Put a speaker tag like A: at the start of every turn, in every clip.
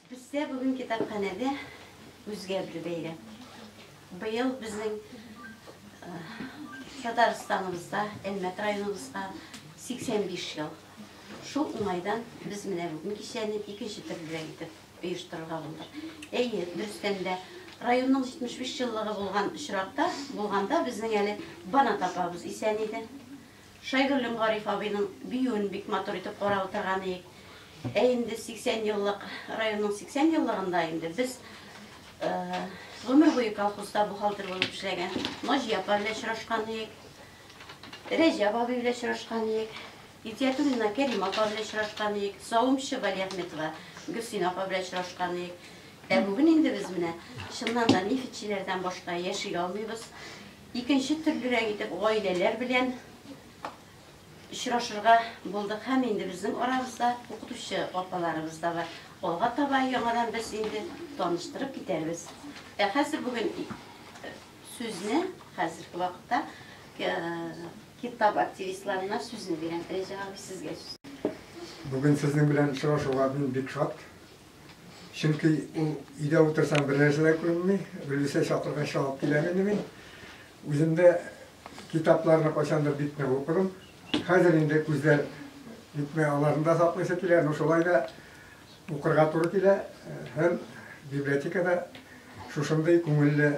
A: Бездә бүген китапханәдә үзгә бер бәйрәм. Быел безнең Татарстаныбызда, Әлмәт районыбызга 85 ел Шул уңайдан без менә бүген кичәне икенче төрлерәк итеп оештырырга булдык. Әйе, дөрестән дә, районның 75 еллыгы булган очракта булганда безнең әле Банат апабыз исән иде. Шайгөллем Гариф абыйның биюен бик матур итеп карап утырган иек. Ә инде 80 еллык, районның 80 еллыгында инде без гомер буе колхозда бухгалтер булып эшләгән Наҗия апа белән очрашкан иек. Рәҗәп абый белән очрашкан идек. Итиятуллина Кәрим апа белән очрашкан идек. Савымчы Валиәхметова Гөлсин апа белән очрашкан идек. Ә бүген инде без менә чыннан да нефтьчеләрдән башка яши алмыйбыз. Икенче төрлерәк итеп гаиләләр белән очрашырга булдык һәм инде безнең арабызда укытучы апаларыбыз да бар. Алга таба яңадан без инде таныштырып китәрбез. Ә хәзер бүген Сүзне хәзерге вакытта китап активистларына сүзне бирәм. Рәҗәп абый, сезгә сүз. Бүген сезнең белән очрашуга мин бик шат. Чөнки ул өйдә утырсаң бер нәрсә дә күренми, Гөлүсә чакыргач чалып киләм инде мин. Үзем дә китапларны кайчандыр бик нык укыдым. Хәзер инде күзләр бик аларны да саклыйсы килә, но шулай да Укырга туры килә һәм библиотекада шушындый күңелле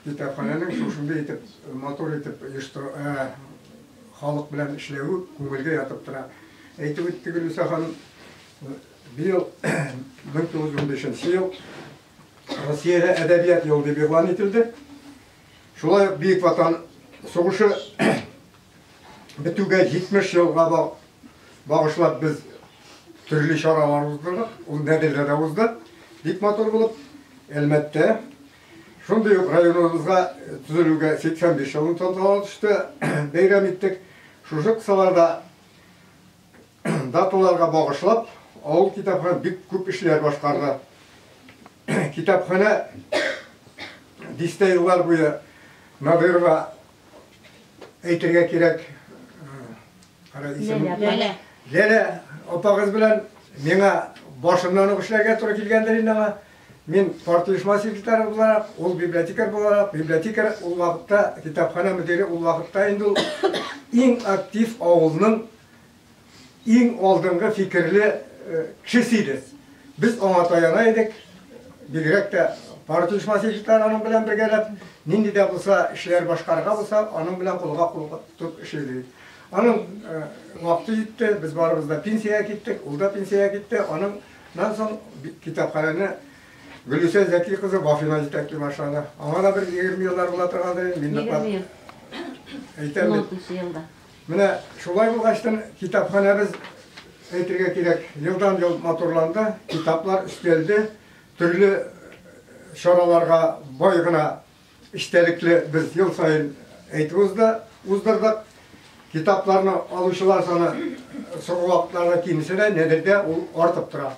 A: китапханәнең шушындый итеп матур итеп оештыру, халык белән эшләве күңелгә ятып тора. Әйтеп үтте Гөлүсә ханым, быел 1915 ел Россиядә әдәбият елы дип игълан ителде. Шулай ук Бөек Ватан сугышы бетүгә 70 елга багышлап без төрле чаралар уздырдык. Ул Нәдердә дә узды. Бик матур булып, әлбәттә. Шундый ук районыбызга төзелүгә 85 елын тантаналы төштә бәйрәм иттек. Шушы кысаларда даталарга багышлап, авыл китапханә бик күп эшләр башкарды. Китапханә дистә еллар буе Надырова Әйтергә кирәк, Ләлә. Ләлә апагыз белән миңа башыннан ук эшләргә туры килгәндер инде аңа. Мин парт оешма секретары буларак, ул библиотекарь буларак, библиотекарь ул вакытта, китапханә мөдире ул вакытта инде ул иң актив авылның Иң алдынгы фикерле кеше сиде. Без аңа таяна идек, бигрәк тә партия оешмасы егетләре аның белән бергәләп, нинди дә булса эшләр башкарырга булса, аның белән кулга-кул тотып эшлибез идек. Аның вакыты җитте, без барыбыз да пенсиягә киттек, ул да пенсиягә китте. Аннан соң китапханәне Гөлүсә Зәки кызы Вафина җитәкли башлады. Аңа да бер 20 еллар була торгандыр инде. Мин ныклап әйтәм бит. Менә шулай булгачтын, китапханәбез, әйтергә кирәк, елдан-ел матурланды, китаплар өстәлде, төрле чараларга бай гына эчтәлекле без ел саен әйтеп узды, уздырдык. Китапларны алучылар саны соңгы вакытларда кимсә дә, нәдердә ул артып тора.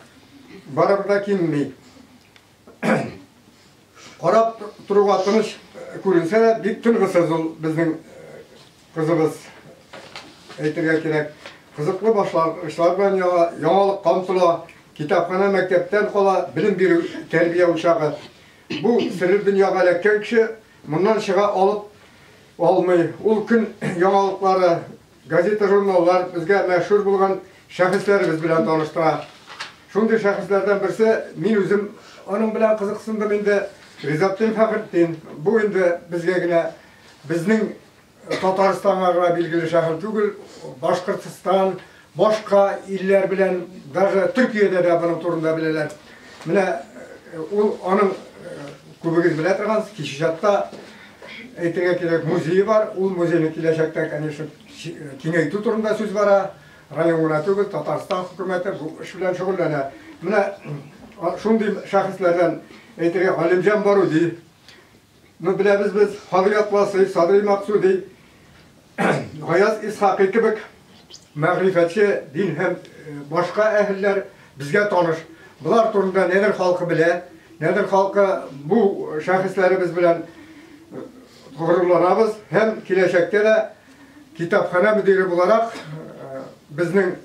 A: Барыбер дә кимми. Карап торуга тыныч күренсә дә, бик тынгысыз ул безнең кызыбыз әйтергә кирәк. Кызыклы башлангычлар белән яңа, яңалык камтыла, китапхана мәктәптән кала, белем бирү тәрбия учагы. Бу серле дөньяга эләккән кеше моннан чыга алып алмый. Ул көн яңалыклары Газета-журналлар безгә мәшһүр булган шәхесләребез белән таныштыра. Шундый шәхесләрдән берсе, мин үзем аның белән кызыксындым инде, Ризатдин Фәхретдин. Бу инде безгә генә, безнең Татарстанга гына билгеле шәхес түгел, Башкортстан, башка илләр белән, даже Төркиядә дә моның турында беләләр. Менә ул аның күбегез белә торгансыз, Кече Чатта, Әйтергә кирәк, музее бар, ул музейны киләчәктә, конечно, киңәйтү турында сүз бара. Район гына түгел, Татарстан хөкүмәте бу эш белән шөгыльләнә. Менә шундый шәхесләрдән әйтергә Галимҗан Баруди, ну беләбез без, Хадри Атласый, Садри Максуди, Гаяз Исхакый кебек мәгърифәтче, дин һәм башка әһелләр безгә таныш. Болар турында Нәдер халкы белә. Нәдер халкы бу шәхесләребез белән горурланабыз һәм киләчәктә дә китапханә мөдире буларак безнең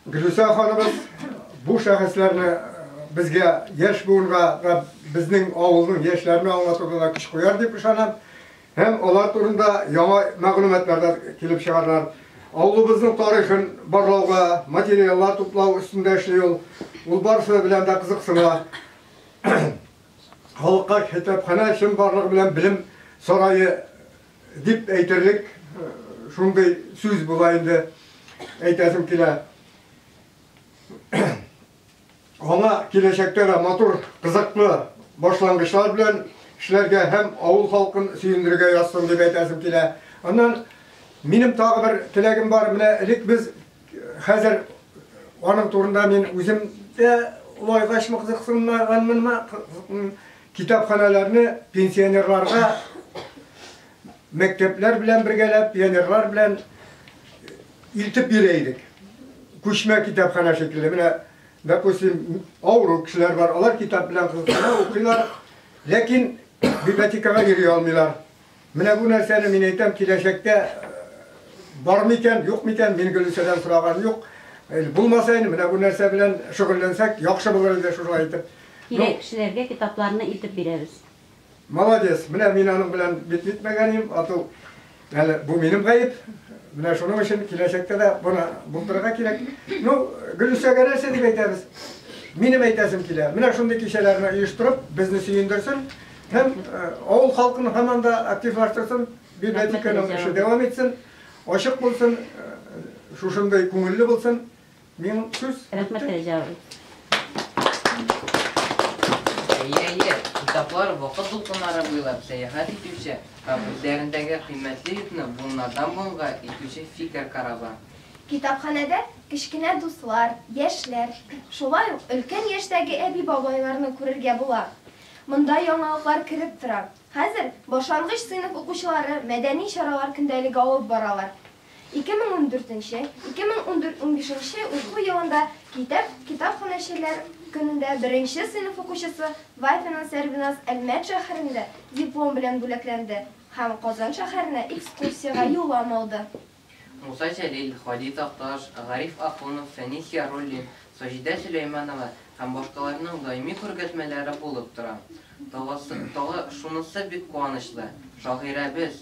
A: Гөлүсә ханыбыз бу шәхесләрне безгә яшь буынга да безнең авылның яшьләренә аңлатуда да көч куяр дип ышанам. Һәм алар турында яңа мәгълүматлар да килеп чыгарлар. Авылыбызның тарихын барлауга, материаллар туплау өстендә эшли ул. Ул барысы белән дә кызыксына. Халыкка китапханә чынбарлыгы белән белем сарае дип әйтерлек шундый сүз була инде, әйтәсем килә. Аңа киләчәктә дә матур, кызыклы башлангычлар белән эшләргә һәм авыл халкын сөендерергә язсын дип әйтәсем килә. Аннан минем тагы бер теләгем бар. Менә элек без хәзер аның турында мин үзем дә лайгач мыксыксынмаганмынмы китапханәләрне пенсионерларга Мәктәпләр белән бергәләп, пионерлар белән илтеп йөри идек. Күчмә китапханә шикелле. Менә, допустим, авыру кешеләр бар, алар китап белән кызыксына укыйлар, ләкин библиотекага йөри алмыйлар. Менә бу нәрсәне мин әйтәм, киләчәктә бар микән, юк микән, мин Гөлүсәдән сораган юк. Булмаса инде, менә бу нәрсә белән шөгыльләнсәк, яхшы булыр иде шулай итеп. Кирәк кешеләргә китапларны илтеп бирәбез. Молодец, менә мин аның белән бит җитмәгән идем, ату. Әле бу минем гаеп. Менә шуның өчен киләчәктә дә буны булдырырга кирәк. Ну, Гөлүсәгә нәрсә дип әйтәбез? Минем әйтәсем килә. Менә шундый кичәләрне оештырып, безне сөендерсен һәм э, авыл халкын һаман да активлаштырсын, библиотеканың эше дәвам итсен, ачык булсын, э, шушындый күңелле булсын. Мин сүз. Рәхмәт, Рәҗә абый. Әйе-әйе, китаплар вакыт дулкыннары буйлап сәяхәт итүче һәм үзләрендәге кыйммәтле йөкне буыннардан-буынга илтүче фикер корабы. Китапханәдә кечкенә дуслар, яшьләр, шулай ук өлкән яшьтәге әби-бабайларны күрергә була. Монда яңалыклар кереп тора. Хәзер башлангыч сыйныф укучылары мәдәни чаралар көндәлеге алып баралар. 2014 2015 уку елында Китап китапханәчеләр көнендә беренче сыйныф укучысы Вафина Сәрвиназ Әлмәт шәһәрендә диплом белән бүләкләнде һәм Казан шәһәренә экскурсиягә юллам алды. Муса Җәлил, Һади Такташ, Гариф Ахунов, Фәнис Яруллин, Саҗидә Сөләйманова һәм башкаларның даими күргәзмәләре булып тора. Тагысы, тагы шунысы бик куанычлы, шагыйрәбез,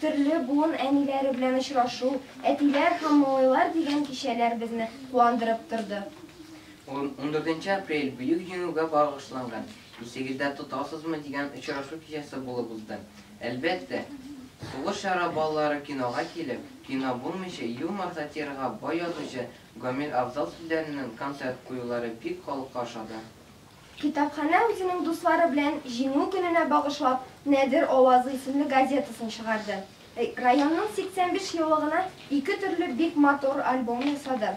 A: Төрле буын әниләре белән очрашу, Әтиләр һәм малайлар дигән кичәләр безне куандырып торды. Ундүртенче апрель, Бөек Җиңүгә багышланган, Исегездә тотасызмы? дигән очрашу кичәсе булып узды. Әлбәттә, тулы чара балалары кинога килеп, кино булмыйча, юмор, сатирага бай язучы Гамил Авзал сүзләреннән концерт куюлары бик халыкка ошады. Китапханә үзенең дуслары белән Җиңү көненә багышлап Нәдер авазы исемле газетасын чыгарды. Районның 85 еллыгына ике төрле бик матур альбом ясады.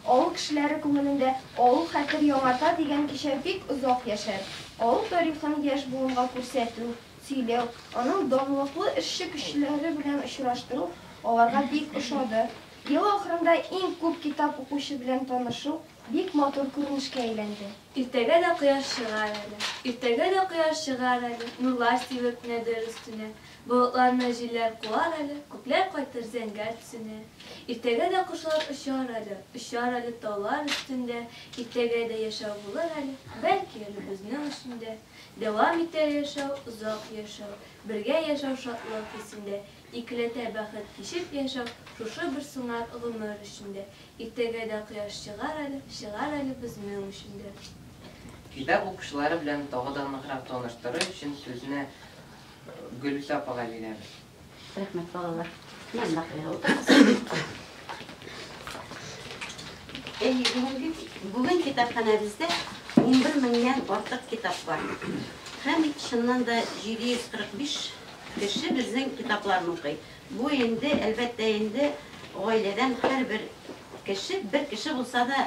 A: Авыл кешеләре күңелендә Авыл хәтер яңарта дигән кичә бик озак яшәр. Авыл тарихын яшь буынга күрсәтү, сөйләү, аның данлыклы эшче кешеләре белән очраштыру аларга бик ошады. Ел ахырында иң күп китап укучы белән танышу, Бик матур күренешкә әйләнде. Иртәгә дә кояш чыгар әле. Иртәгә дә кояш чыгар әле, Нурлар сибеп кенә дер өстенә. Болытларны җилләр куар әле, Күкләр кайтыр зәңгәр төсенә. Иртәгә дә кошлар очар әле, Очар әле таулар өстендә. Иртәгә дә яшәү булыр әле, Бәлки әле безнең өчен дә. Дәвам итәр яшәү, озак яшәү, Бергә яшәү шатлык хисендә. Икеләтә бәхет кичеп яшәү шушы бер сыңар гомер эчендә. Иртәгә дә кояш чыгар әле, чыгар әле безнең өчен дә. Китап укучылары белән тагы да ныграк таныштырыр өчен сүзне Гөлүсә апага бирәбез. Рәхмәт, балалар. Янына куяр утырасыз. Әйе, бүгенге, бүген китапханәбездә унбер меңнән артык китап бар. Һәм, чыннан да, 745 Кеше безнең китапларны укый. Бу инде, әлбәттә инде, гаиләдән һәрбер кеше, бер кеше булса да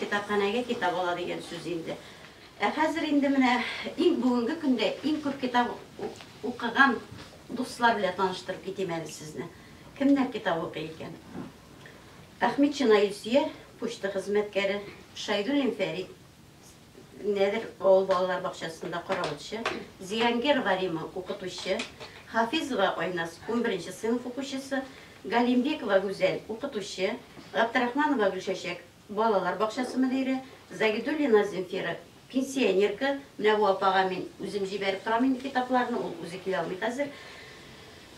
A: китапханәгә китап ала дигән сүз инде. Ә хәзер инде менә иң бүгенге көндә иң күп китап укыган дуслар белән таныштырып китим әле сезне. Кемнәр китап укый икән? Әхмитшина Илсөя, почта хезмәткәре, Шәйдуллин Фәрит. Нәдер авыл балалар бакчасында каравылчы, Зиангерова Рима, укытучы, Хафизова Айназ, унберенче сыйныф укучысы, Галимбекова Гүзәл, укытучы, Габдрахманова Гөлчәчәк, балалар бакчасы мөдире, Загидуллина Земфира, пенсионерка, менә бу апага мин үзем җибәреп торам инде китапларны, ул үзе килә алмый хәзер.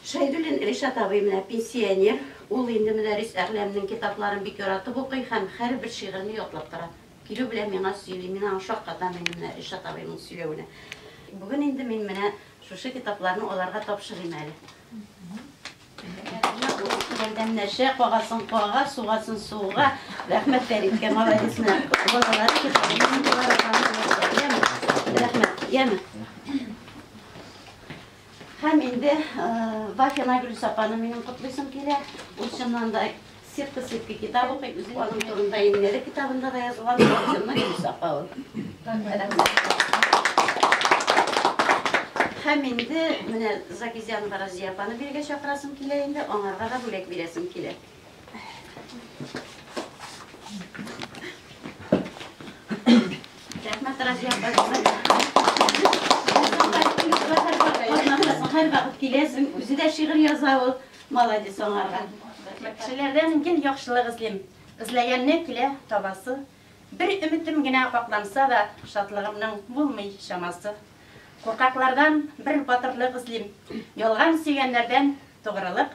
A: Шәйдуллин Ришат абый менә пенсионер, ул инде Мөдәррис Әгъләмнең китапларын бик яратып укый һәм һәрбер шигырен ятлап тора. Килү белән миңа сөйли, мин аңа шаккатам инде менә Ришат абыйның сөйләвенә. Бүген инде мин менә шушы китапларны аларга тапшырыйм әле. Ярдәмнәшә, кагасын кага, сугасын суга. Рәхмәт Фәриткә, молодец менә. Балалар китабын Рәхмәт. Яме. Һәм инде Вафия Найгулис апаны минем котлыйсым килә. Ул чыннан да сетка сетка китап укый. Үзенең аның турында Иннәре китабында да язылган Вафия Найгулис апа ул. Һәм инде менә Закизянова Разия апаны бирегә чакырасым килә инде, аңарга да бүләк бирәсем килә. Рәхмәт, Разия Һәрвакыт киләсең, үзе дә шигырь яза ул. Молодец аңарга. Кешеләрдән гел яхшылык эзлим. Эзләгәнне килә табасы. Бер өметем генә капланса да, шатлыгымның булмый чамасы. Куркаклардан бер батырлык эзлим. Ялган сөйгәннәрдән тугрылык.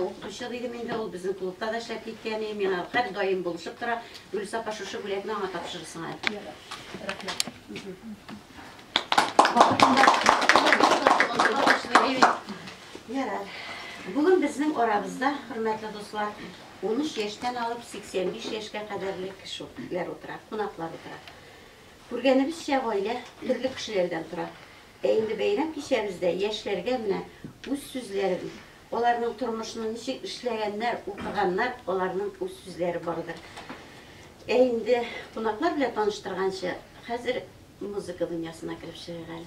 A: Укытучы дидем инде, ул безнең клубта да эшләп киткән, миңа һәр даим булышып тора. Гөлүс апа шушы бүләкне аңа тапшырырсың әле. Рәхмәт. Ярар. Бүген безнең арабызда, хөрмәтле дуслар, 13 яшьтән алып 85 яшькә кадәрле кешеләр утыра, кунаклар утыра. Күргәнебезчә, гаилә төрле кешеләрдән тора. Ә инде бәйрәм кичәбездә яшьләргә менә үз сүзләрен, аларның тормышны ничек эшләгәннәр, укыганнар, аларның үз сүзләре бардыр. Ә инде кунаклар белән таныштырганчы, хәзер музыка дөньясына кереп чыгыйк әле.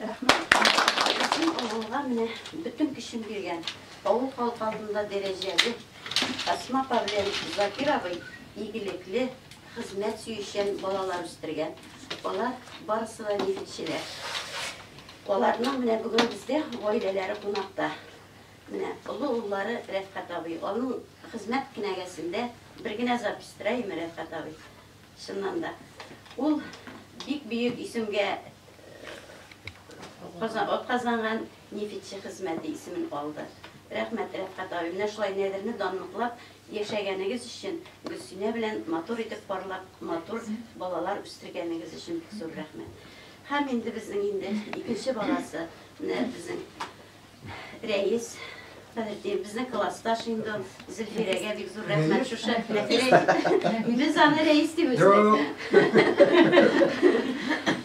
A: Рәхмәт. Исем алганга менә бөтен көчен биргән, авыл халкы алдында дәрәҗәле, Асма апа белән Закир абый игелекле, хезмәт сөючән балалар үстергән. Алар барысы да нефтьчеләр. Аларның менә бүген бездә гаиләләре кунакта. Менә олы уллары Рәфкать абый. Аның хезмәт кенәгәсендә бер генә запись тора име, Рәфкать абый? Чыннан да, ул бик бөек исемгә атказанган нефитче хезмәте исемен алды. Рәхмәт, Рәфкать абый, менә шулай Нәдерне данлыклап яшәгәнегез өчен, Гөлсинә белән матур итеп парлап, матур балалар үстергәнегез өчен бик зур рәхмәт. Һәм инде безнең инде икенче баласы, менә безнең Рәис, подожди, безнең класста шундый Зөлфирәгә бик зур рәхмәт шушы. Без аны Рәис дип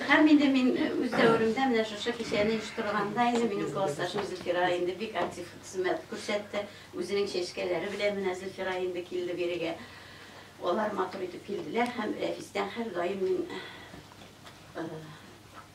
A: Һәм инде мин үз дәверемдә менә шушы кичәне оештырганда инде минем классташым Зөлфира инде бик актив хезмәт күрсәтте. Үзенең чәчкәләре белән менә Зөлфира инде килде бирегә. Алар матур итеп килделәр һәм Рәфистән һәрдаим мин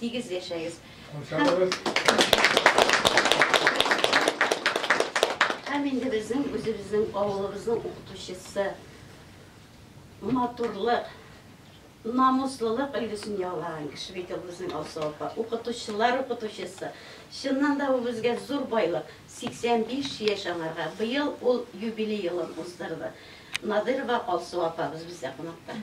A: Тигез яшәгез. Һәм инде безнең үзебезнең авылыбызның укытучысы матурлык, намуслылык өлгесен ялаган кеше бит ул безнең Алсу апа. Укытучылар укытучысы. Чыннан да ул безгә зур байлык. 85 яшь аңарга. Быел ул юбилей елын уздырды. Надырова Алсу апабыз бездә кунакта.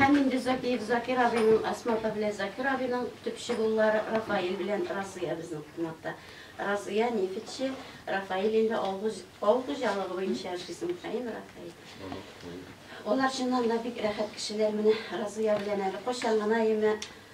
A: Һәм инде Закиев Закир абыйның, Асма апа белән Закир абыйның төпче уллары Рафаил белән Разыя безнең кунакта. Разыя нефтьче, Рафаил инде авыл хуҗалыгы буенча эшли Михаил Рафаил. Алар чыннан да бик рәхәт кешеләр. Менә Разыя белән әле кайчан гына яме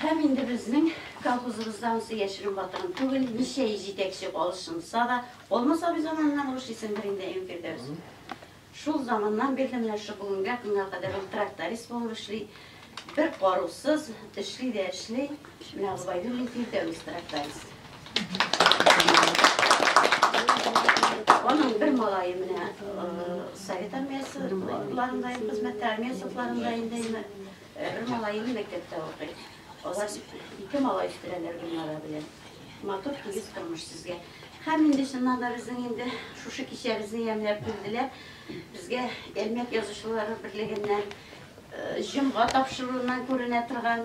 A: Һәм инде безнең колхозыбызда анысы яшерен батырын түгел, ничә йөз җитәкче алышынса да, Алмас абый заманыннан уш исемдер инде Әюнфирдәүс. Шул заманнан бирле менә шул бүгенгә көнгә кадәр ул тракторист булып эшли, бер карусыз эшли дә эшли. Язбайны мин Фирдәвес трактарист. Аның бер малае менә совет армиясе ларында хезмәттә, армия сотларында инде бер малае мәктәптә укый. Алар ике малай үстерәләр Гөлнара белән. Матур тигез тормыш сезгә. Һәм инде чыннан да безнең инде шушы кичәбезне ямьләп килделәр. Безгә Әлмәт язучылары берлегеннән җомга тапшыруыннан күренә торган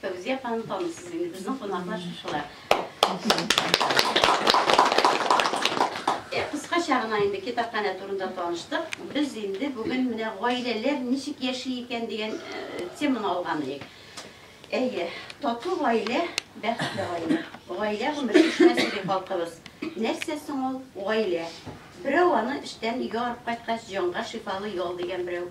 A: Фәүзия апаны таныйсыз инде, безнең кунаклар шушылар. Кыскача гына инде китапханә турында таныштык. Без инде бүген менә гаиләләр ничек яши икән дигән теманы алган идек. Әйе, тату гаилә, бәхетле гаилә. Гаилә гомере эшкә сирәк халкыбыз. Нәрсә соң ул гаилә? Берәү аны эштән өйгә арып кайткач, җанга шифалы ял дигән берәү.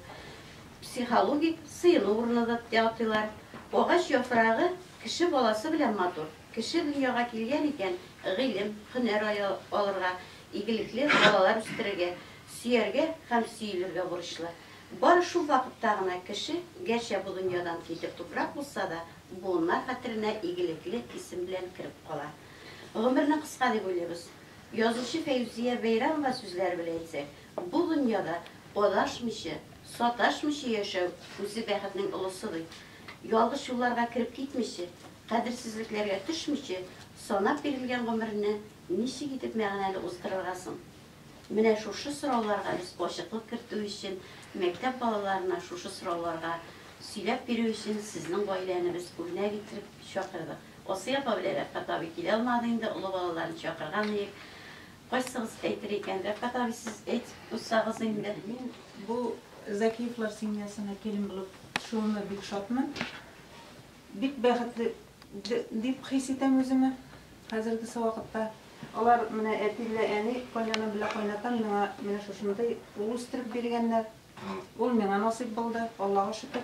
A: Психологик сыену урыны да дип атыйлар. Агач яфрагы кеше баласы белән матур. Кеше дөньяга килгән икән, гыйлем, һөнәр алырга, игелекле балалар үстерергә, сөяргә һәм сөелергә бурычлы. Бары шул вакытта гына кеше, гәрчә бу дөньядан китер туфрак булса да, буыннар хәтеренә игелекле исем белән кереп кала. Гомерне кыска дип уйлыйбыз. Язучы Фәйзүзия Бәйрәмова сүзләре белән әйтсәк, Бу дөньяда адашмыйча, саташмыйча яшәү үзе бәхетнең олысы бит. Ялгыш юлларга кереп китмичә, кадерсезлекләргә төшмичә, санап бирелгән гомерне ничек итеп мәгънәле уздырырга соң? Менә шушы сорауларга без ачыклык кертү өчен, мәктәп балаларына шушы сорауларга сөйләп бирү өчен сезнең гаиләне без үрнәк итеп чакырдык. Асия апа белән Рәфкать абый килә алмады инде, олы балаларын чакырган идек. Кайсыгыз әйтер икән? Рәфкатаби сез әйтеп куйсагыз инде. Мин бу Закиевлар семьясына килен булып төшүемә бик шатмын. Бик бәхетле дип хис итәм үземә хәзергесе вакытта. Алар менә әти белән әни, кайнанам белән кайнатам миңа менә шушындый ул үстереп биргәннәр. Ул миңа насыйп булды, Аллага шөкер.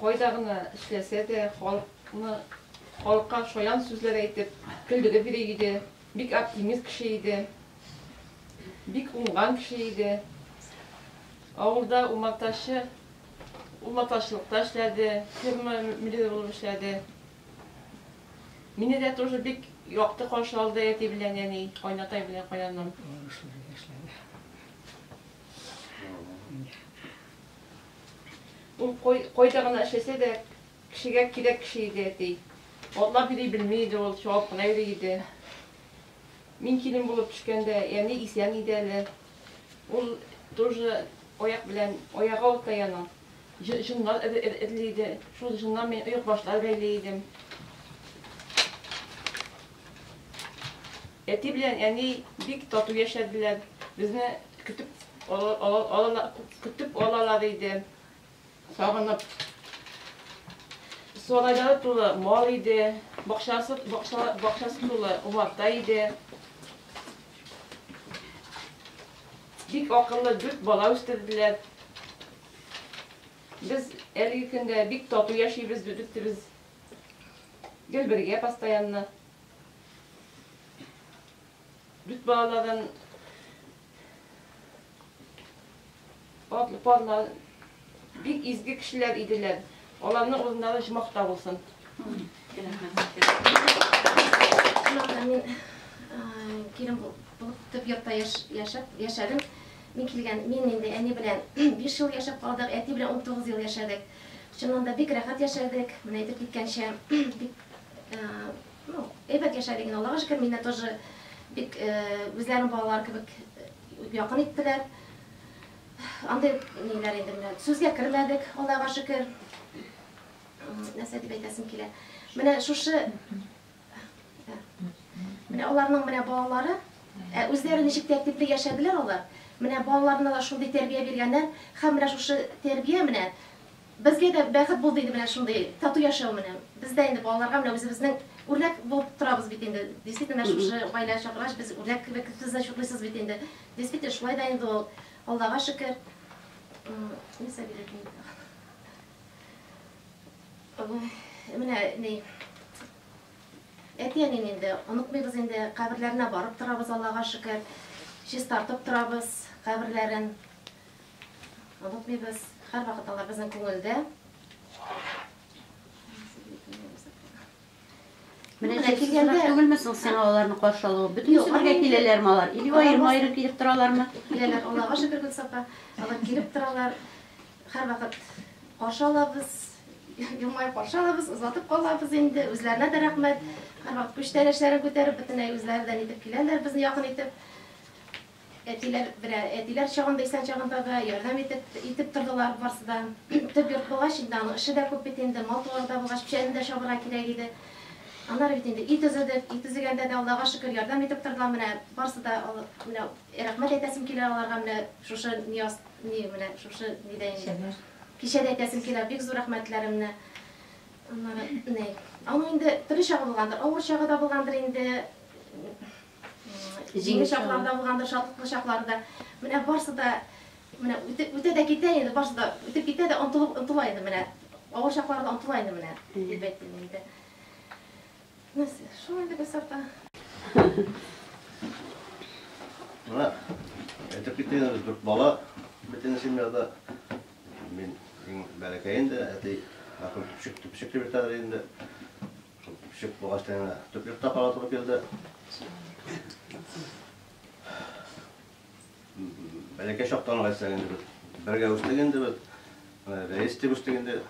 A: Кайда гына эшләсә дә, халыкны, халыкка шаян сүзләр әйтеп, көлдереп йөри иде. Бик оптимист кеше иде. Бик уңган кеше иде. Авылда умартачы, умартачылыкта эшләде, ферма мөдире булып эшләде. Мине дә тоже бик якты каршы алды әти белән әни, кайнатай белән кайнаным. Уңышлы эшләде. Ул кайда гына эшләсә дә, кешегә кирәк кеше иде, әти. Атлап йөри белми иде ул, чабып кына йөри иде. Мин килен булып төшкәндә, әни исән иде әле. Ул тоже аяк белән, аягы авырта аның. Җоннар эзли иде. Шул җоннан мин оекбашлар бәйли идем. Әти белән әни бик тату яшәделәр, безне көтеп алалар иде, сагынып. Сарайлары тулы мал иде, бакчасы тулы умарта иде. Бик акыллы дүрт бала үстерделәр. Без әлеге көндә бик тату яшибез, дүртебез гел бергә постоянно. Бит балалардан атлы парлар бик изге кешеләр иделәр. Аларның урыннары җмахта булсын. Мин килен булып төп йортта яшәп, яшәдем. Мин килгән, мин инде әни белән 5 ел яшәп калдык, әти белән 19 ел яшәдек. Чыннан да бик рәхәт яшәдек. Менә әйтеп киткәнчә, бик Ну, әйбәт яшәдек, Аллага шөкер, мине тоже бик үзләренең балалары кебек якын иттеләр. Андый ниләр инде менә сүзгә кермәдек, Аллага шөкер. Нәрсә дип әйтәсем килә. Менә шушы Менә аларның менә балалары, ә үзләре ничек тәртипле яшәделәр алар. Менә балаларына да шундый тәрбия биргәннәр, һәм менә шушы тәрбия менә Безгә дә бәхет булды инде менә шундый тату яшәү менә. Без дә инде балаларга менә үзебезнең үрнәк булып торабыз бит инде. Действительно, менә шушы гаилә чакыргач, без үрнәк кебек сез дә чутлыйсыз бит инде. Действительно, шулай да инде ул. Аллага шөкер. Ни Сабир әби инде ул. Менә ни, әти-әнине инде онытмыйбыз инде, каберләренә барып торабыз, Аллага шөкер. Чистартып торабыз каберләрен. Онытмыйбыз, һәрвакыт алар безнең күңелдә. Менә Менә килгәндә- килгәндә түгелме соң сиңа аларны каршы алу? Бөтен Юк, бергә алар- киләләрме алар? Или Алар аерым аерым килеп торалармы? Киләләр, Аллага шөкер, Гөлсапа. Алар килеп торалар. Һәрвакыт каршы алабыз. Елмаеп каршы алабыз, озатып калабыз инде. Үзләренә дә рәхмәт. Һәрвакыт күчтәнәчләрен күтәреп, бөтенләй үзләре дә нитеп киләләр безне якын итеп. Әтиләр берә, әтиләр чагында исән чагында да ярдәм итеп, итеп тордылар барсы да. Төп йорт булгач, инде аның эше дә күп бит инде, мал-туары да булгач, печәнне дә чабырга кирәк иде. Аннары бит инде өй төзедек, өй төзегәндә дә, Аллага шөкер, ярдәм итеп тордылар, менә барсы да, менә рәхмәт әйтәсем килә аларга, менә шушы ни аст, ни, менә шушы нидә инде, кичәдә әйтәсем килә бик зур рәхмәтләремне. Аннары, ни, аның инде төрле чагы булгандыр, авыр чагы да булгандыр инде. Җиңел чаклары да булгандыр, шатлыклы чаклары да. Менә барсы да менә үтә дә китә инде, барсы да үтеп китә дә онтылып онтыла инде менә. Авыр чаклары да онтыла инде менә, дип әйтте инде. Нәрсә, шул инде без сарта. Менә әйтеп китә дүрт бала бөтен семьяда. Мин иң бәләкәй инде, әти Ахмет Тупчик, Тупчик дип әйтәләр инде. Шул төпчек булгач та янә төплек тә кара туры килде. Бәләкәй чактан алай сәгән дибез. Бергә үстек инде без. Рәис дип үстек инде.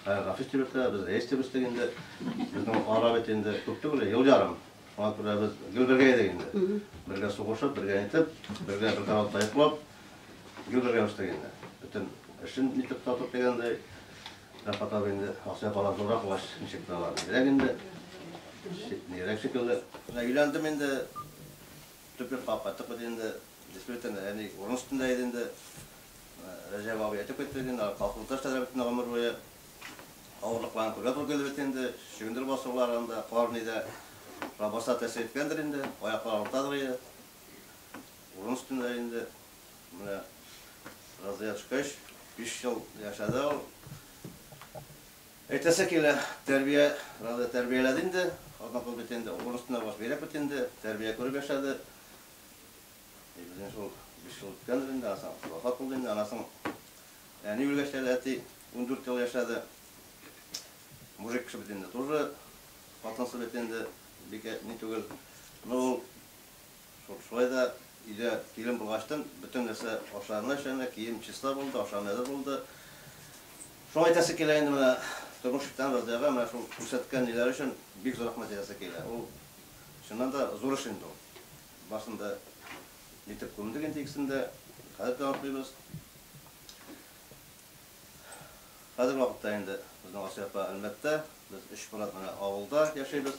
A: Гафис дип үстек, без рәис дип үстек инде. Безнең ара бит инде күп түгел, ел ярым. Шуңа күрә без гел бергә идек инде. Бергә сугышып, бергә итеп, бергә бер караватта йоклап, гел бергә үстек инде. Бөтен эшен итеп татып дигәндәй. Рәфкать абый инде акча бала зуррак булгач, ничек тә алар бигрәк инде, нигрәк шикелле. Менә өйләндем инде, төп йортка кайттык без инде. Действительно, әни урын өстендә иде инде. Рәҗәп абый әйтеп китте бит инде, колхозда эшләде бит инде гомер буе. Авырлыкларын күрергә туры килде бит инде, чөгендер басулар анда, кар нидә. Шуңа барса да тәэсир иткәндер инде, аяклар авыртадыр иде. Урын өстендә инде. Менә разрядчикач биш ел яшәде ул. Әйтәсе килә, тәрбия, разряд тәрбияләде инде. Однако бит инде урысны баш бирәк бит инде, тәрбия күреп яшәде. И безнең шул биш ел үткәндер инде, аннан соң вафат булды инде. Аннан соң әни үлгәч тә әти ундүрт ел яшәде. Мужик кеше бит инде, тоже хатынсыз бит инде, бик ни түгел. Но ул Шулай да өйдә килен булгачтын, бөтен нәрсә ашарына эшләнә, кием чиста булды, ашарына әзер булды. Шуңа әйтәсе килә инде менә тормыш иткән Разыяга менә шул күрсәткән ниләре өчен бик зур рәхмәт әйтәсе килә. Ул, чыннан да, зур эш инде ул. Барсын да илтеп күмдек инде икесен дә. Хәзер дә атлыйбыз. Хәзерге вакытта инде безнең Асия апа Әлмәттә, без өч брат менә авылда яшибез.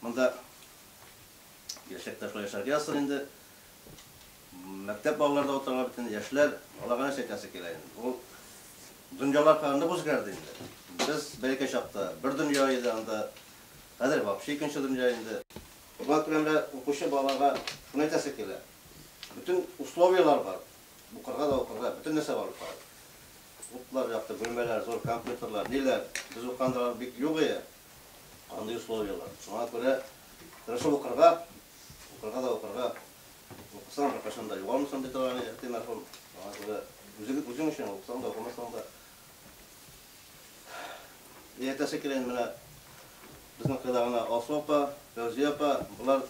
A: Монда яшьлек ташлар яшәргә язсын инде. Мәктәп балалары да утыралар бит инде, яшьләр, аларга нәрсә әйтәсе килә инде. Ул дөньялар хәзер нык үзгәрде инде. Без бәләкәй чакта бер дөнья иде анда, хәзер вообще икенче дөнья инде. Кызлар күләмендә укучы балаларга шуны әйтәсе килә, бөтен условияләр бар, укырга да укырга, бөтен нәрсә бар бит аларда. Утлар якты, бүлмәләр зур, компьютерлар, ниләр, без укыганда алар бик юк иде. Андый условиялар. Шуңа күрә тырышып укырга, укырга да укырга. Укысаң, беркайчан да югалмыйсың, ди торган иде әти мәрхүм. Шуңа күрә үзең, үзең өчен укысаң да, укымасаң да. И әйтәсе килә инде менә безнең кыйла гына Алсу апа, Фәүзия апа, болар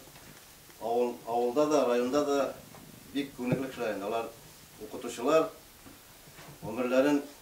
A: авыл, авылда да, районда да бик күренекле кешеләр инде. Алар укытучылар, гомерләрен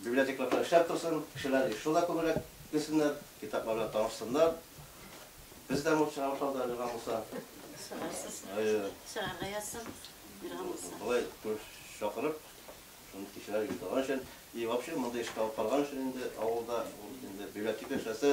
A: Библиотекларда эшләп торсын, кешеләр еш шунда күбрәк килсеннәр, китаплар белән танышсыннар. Без дә мул чыгарыш алда өлгергән булса. Чыгарсыз. Әйе. Чыгарга язсын, өлгергән булса. Болай күп чакырып, шундый кичәләр оештырган өчен и вообще мондый эшкә алып барган өчен инде авылда, ул инде библиотека эшләсә,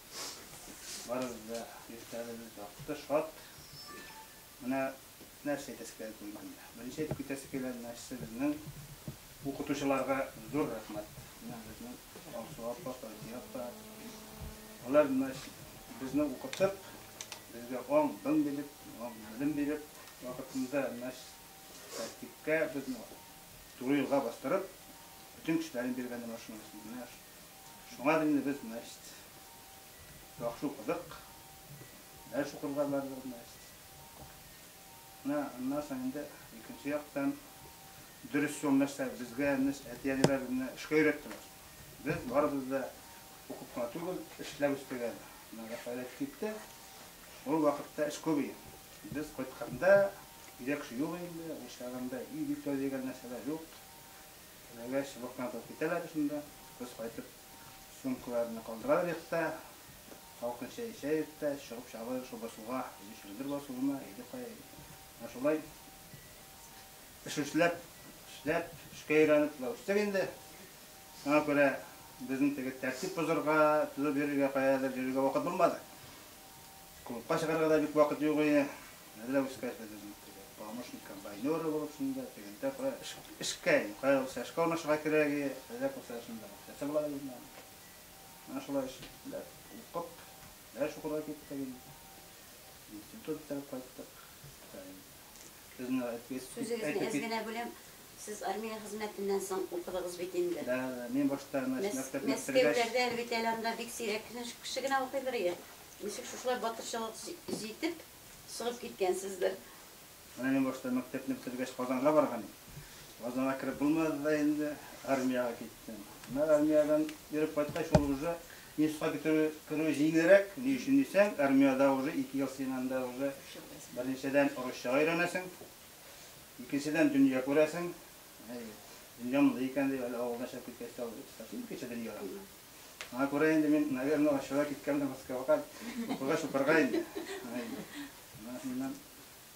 A: Барыбыз да яшьләребез якты, шат. Менә нәрсә әйтәсе килә бит инде монда. Беренче әйтеп китәсе килгән нәрсә безнең укытучыларга зур рәхмәт. Менә безнең Алсу апа, Фәүзия апа. Алар менә безне укытып, безгә аң-бың биреп, белем биреп, вакытында менә тәртипкә, безне туры юлга бастырып, бөтен кешеләрен биргән менә шуның өчен. Менә Шуңа инде без, значит, яхшы укыдык, дәрес укырга бардык, значит. Менә аннан соң инде икенче яктан дөрес юл нәрсә, безгә әти-әниләр безне эшкә өйрәттеләр. Без барыбыз да укып кына түгел, эшләп үстек әле. Менә Рафаэль әйтеп китте, ул вакытта эш күп иде. Без кайтканда, өйдә кеше юк инде, ул чагында өй бик тәүдә дигән нәрсәләр юк. Теләгәч, блокнот алып китәләр дә шунда, без кайтып сумкаларны калдыралар йортта, салкын чәй эчә йортта, чыгып чабалар шул басуга, иде чөгендер басуына, иде кая, иде. Менә шулай эш эшләп, эшләп, эшкә өйрәнеп шулай үстек инде. Шуңа күрә безнең теге тәртип бозарга, тузып йөрергә, каядыр йөрергә вакыт булмады. Клубка чыгарга да бик вакыт юк иде. Әле дә үскәрде безнең теге помощник комбайнеры булып шунда, тегендә кая эшкә, кая булса эшкә урнашырга кирәге, әллә булса шунда акчасы була безнең. Менә шулай эш иттеләр, укып, дәрес укырга киттек инде. Институт бетереп кайттык. Сүзегезне әз генә бүләм, сез армия хезмәтеннән соң укыдыгыз бит инде. Да, да, мин башта мәктәпне Мәскәүләрдә әле бит әле анда бик сирәк кеше генә укыйдыр иде. Ничек шушылай батырчылык җитеп, Сынып киткәнсездер. Менә мин башта мәктәпне бетергәч Казанга барган идем. Казанга кереп булмады да инде, армиягә киттем. Менә армиядән йөреп кайткач, ул уже институтка бетерү, керү җиңелрәк. Ни өчен дисәң, армиядә уже ике ел син анда уже беренчедән русчага өйрәнәсең, икенчедән дөнья күрәсең. Әйе, дөнья мондый икән дип әле авылдан чыгып киткәч тә, икенче дөнья. Аңа күрә инде мин, наверное, ачуга киткәндер Москвага укуга чупырга инде. Аңа инде. Менә шуннан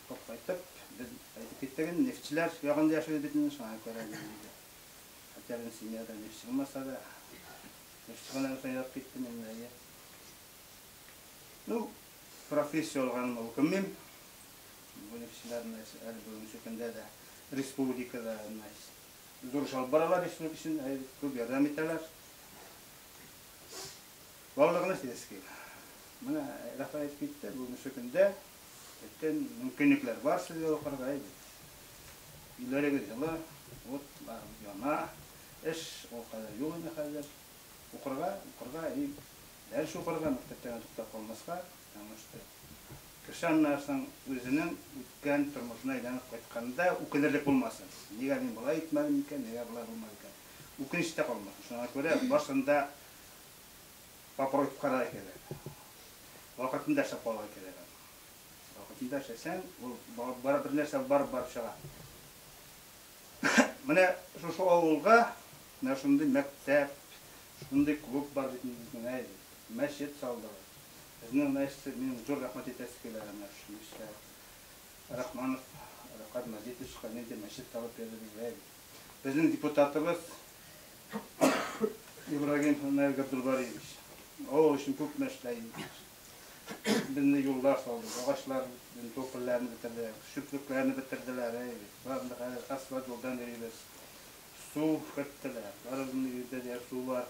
A: укып кайтып, без әйтеп киттек инде, нефтьчеләр ягында яшибез бит инде, шуңа күрә без инде. Хәтта безнең семьяда нефтьче булмаса да, нефтьче булганнан соң язып киттем инде, әйе. Ну, профессия алганыма үкенмим. Бу нефтьчеләр, әле бүгенге көндә дә республикада, дөрес алып баралар исемлек өчен, күп ярдәм итәләр. Барлыгына сельский. Менә Рәхмәт әйтеп китте, бүгенге көндә бөтен мөмкинлекләр бар сезгә укырга әйдә. Өйләрегез җылы, ут бар, яна, эш ул кадәр юк инде хәзер. Укырга, укырга и дәрес укырга, мәктәптән туктап калмаска. Яңышты. Кеше аннан соң үзенең үткән тормышына әйләнеп кайтканда үкенерлек булмасын. Нигә мин болай итмәдем икән, нигә болай булмады икән? Үкенеч тә калмасын. Шуңа күрә барсын да попробовать карарга кирәк. Вакытында эшләп калырга кирәк аны. Вакытында эшләсәң, ул бар бер нәрсә барып барып чыга. Менә шушы авылга менә шундый мәктәп, шундый клуб бар бит инде безнең, әй, мәчет салдыгыз. Безнең Настя, минем зур рәхмәт әйтәсе килә менә шушы мичтә. Рахманов Рәфкать Мәҗитовичка нинди мәчет табып бирде безгә бит. Безнең депутатыбыз Ибрагим Наил Габдулбариевич. Авыл өчен күп мә эшләй. Безне юллар салды, агачлар топольләрен бетерде, чүплекләрне бетерделәр, әй бит. Барында хәзер асфальт юлдан йөрибез. Су керттеләр. Барыбызның өйдә дә су бар.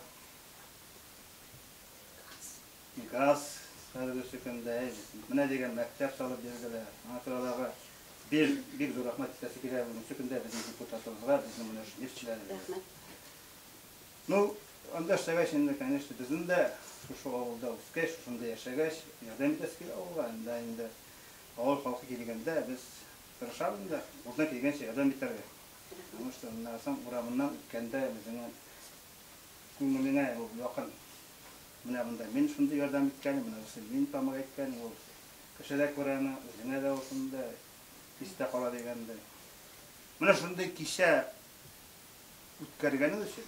A: Газ хәзерге сөкемдә менә дигән мәктәп салып бирделәр. Аңа күрә аларга бик, бик зур рәхмәт әйтәсе килә. Бүген сөкемдә безнең депутатларыбызга, безнең менә шул нефтьчеләребезгә. Рәхмәт. Ну, анда эшләгәч инде, конечно, безнең дә шушы авылда үскәч, шушында яшәгәч, ярдәм итәсе килә авылга. Анда инде авыл халкы килгәндә без тырышабыз инде, кулдан килгәнчә ярдәм итәргә. Потому что, менә карасаң, урамыннан үткәндә үзеңә Күңелеңә ул якын. Менә монда мин шундый ярдәм иткәнем, менә бусы мин тамак әйткәнем, ул кеше дә күрә аны, үзеңә дә ул шундый истә кала дигәндәй. Менә шундый кичә үткәргәнең өчен,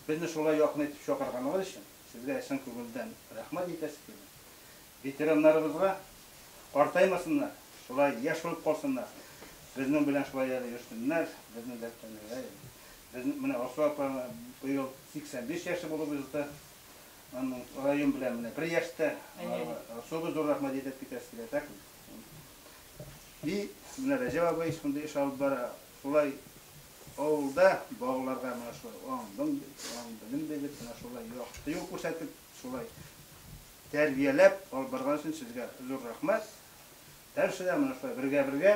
A: безне шулай якын итеп чакырганыгыз өчен сезгә чын күңелдән рәхмәт әйтәсе килә. Ветераннарыбызга картаймасыннар, шулай яшь булып калсыннар, безнең белән шулай әле йөрсеннәр, безнең дәртләрне генә Без менә Алсу апа быел 85 яше булып узды. Аның район белән менә бер яшьтә. Алсуга зур рәхмәт әйтеп китәсе килә. Так би менә Рәҗәп абый шундый эш алып бара. Шулай авылда балаларга менә шулай аңдың, аң белем биреп, менә шулай якты юл күрсәтеп, шулай тәрбияләп алып барган өчен сезгә зур рәхмәт. Дальше да менә шулай бергә-бергә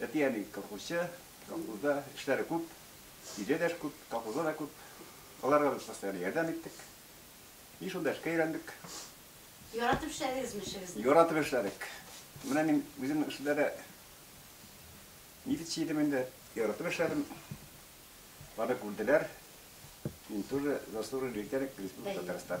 A: Әти әни колхозчы, колхозда эшләре күп, өйдә дә эш күп, колхозда да күп. Аларга без постоянно ярдәм иттек. И шунда эшкә өйрәндек. Яратып эшләдегезме эшегезне? Яратып эшләдек. Менә мин үземнең эшемдә дә милиция идем инде, яратып эшләдем. Аны күрделәр. Мин тоже заслуженный ветеран Республика Татарстан.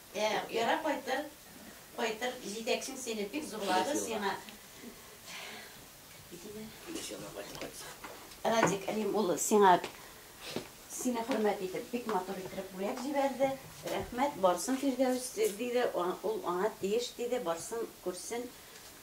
A: Ә, яра кайтыр, кайтыр, җитәкчең сине бик зурлады, сиңа Радик Рим улы сиңа сине хөрмәт итеп бик матур итеп бүләк җибәрде. Рәхмәт, барсын Фирдәүс диде, ул аңа тиеш диде, барсын күрсен.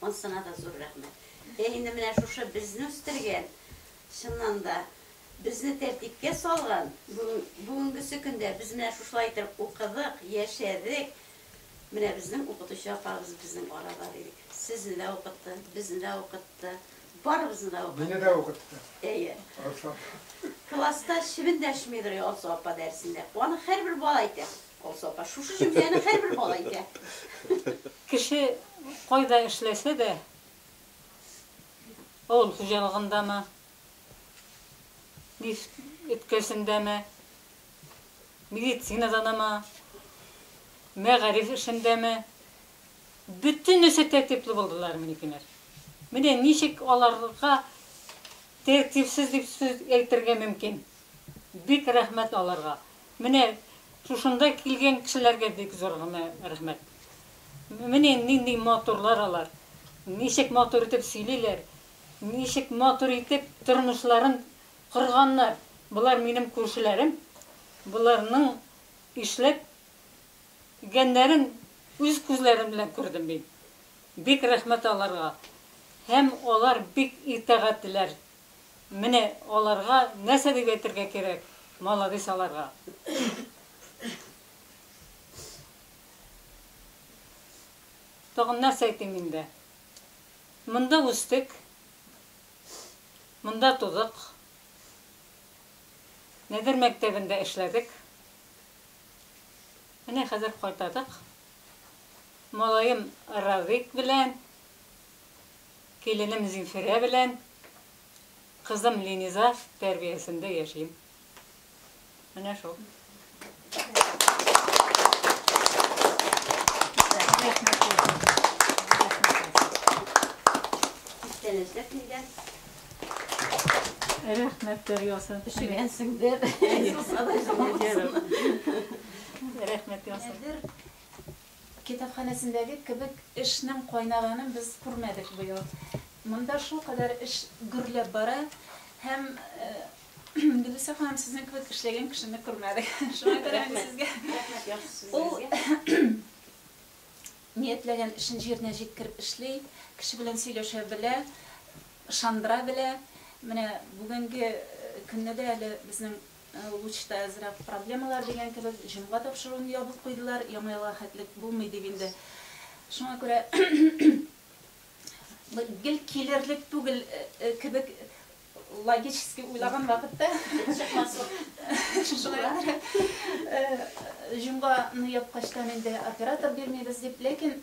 A: Монсына да зур рәхмәт. Һе инде менә шушы безне үстергән, чыннан да, безне тәртипкә салган, бүген, бүгенгесе көндә без менә шушылай итеп укыдык, яшәдек, менә безнең укытучы апабыз безнең арада дидек. Сезне дә укытты, безне дә укытты, барыбызны да укытты. Мине дә укытты. Әйе. Алсу апа. Класста чебен дәшмидер Алсу апа дәресендә. Аны һәрбер бала әйтә. Алсу апа, шушы җөмләне һәрбер бала әйтә. Кеше кайда эшләсә дә, авыл хуҗалыгындамы, мич өткәсендәме, медицинаданамы, мәгариф эшендәме, бөтенесе тәртипле булдылар минекеләр. Менә ничек аларга тәртипсез дип сүз әйтергә мөмкин? Бик рәхмәт аларга. Менә шушында килгән кешеләргә бик зур гына рәхмәт. Менә нинди матурлар алар. Ничек матур итеп сөйлиләр. Ничек матур итеп тормышларын корганнар. Болар минем күршеләрем. Боларның эшләп гәннәрен үз күзләрем белән күрдем мин. Бик рәхмәт аларга. Һәм алар бик итагатьлеләр. Менә аларга нәрсә дип әйтергә кирәк, маладис аларга. Тагын нәрсә әйтим инде. Монда үстек. Монда тудык. Нәдер мәктәбендә эшләдек. Менә хәзер кайтадык. Малаем Радик белән. Киленем Зинфирә белән кызым Линиза тәрбиясендә яшим. Менә шул. Күптән эзләп килгән. Рәхмәт дәрьясын. Өшегәнсеңдер. Рәхмәт ясыйм. Китапханәсендәге кебек эшнең кайнаганын без күрмәдек быел. Монда шулкадәр эш гөрләп бара һәм Гөлүсә ханым, сезнең кебек эшләгән кешене күрмәдек. Шуңа күрә мин сезгә ул ниятләгән эшен җиренә җиткереп эшли, кеше белән сөйләшә белә, ышандыра белә. Менә бүгенге көнне дә әле безнең Лучта әзрәк проблемалар дигән кебек, җомга тапшыруын ябып куйдылар, Яңа елга хәтлек булмый дип инде. Шуңа күрә гел килерлек түгел кебек логически уйлаган вакытта шулай итеп җомганы япкачтан инде оператор бирмибез дип, ләкин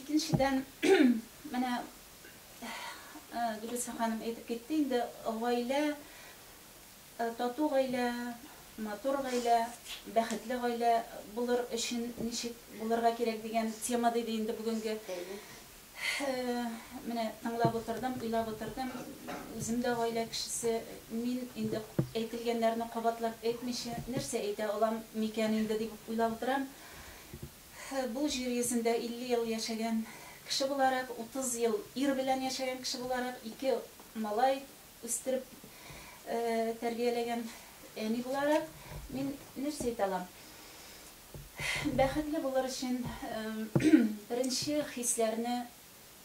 A: Икенчедән, менә Гөлүсә ханым әйтеп китте инде, гаилә, тату гаилә, матур гаилә, бәхетле гаилә булыр өчен ничек булырга кирәк дигән тема диде инде бүгенге. Менә тыңлап утырдым, уйлап утырдым. Үзем дә гаилә кешесе. Мин инде әйтелгәннәрне кабатлап әйтмичә нәрсә әйтә алам микән инде дип уйлап утырам. Бу җир йөзендә 50 ел яшәгән кеше буларак, 30 ел ир белән яшәгән кеше буларак, ике малай үстереп тәрбияләгән әни буларак, мин нәрсә әйтә алам? Бәхетле булыр өчен беренче хисләрне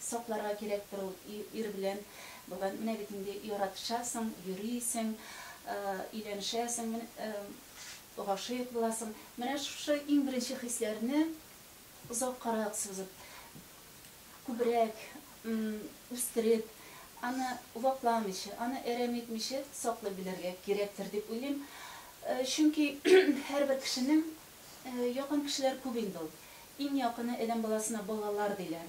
A: Сакларга кирәктер ул ир белән булган. Менә бит инде яратышасың, йөрисең, өйләнешәсең, гашыйк буласың. Менә шушы иң беренче хисләрне озаккарак сузып, күбрәк үстереп, аны вакламыйча, аны әрәм итмичә саклый белергә кирәктер дип уйлыйм. Чөнки һәрбер кешенең Якын кешеләр күп инде ул. Иң якыны адәм баласына балалар диләр.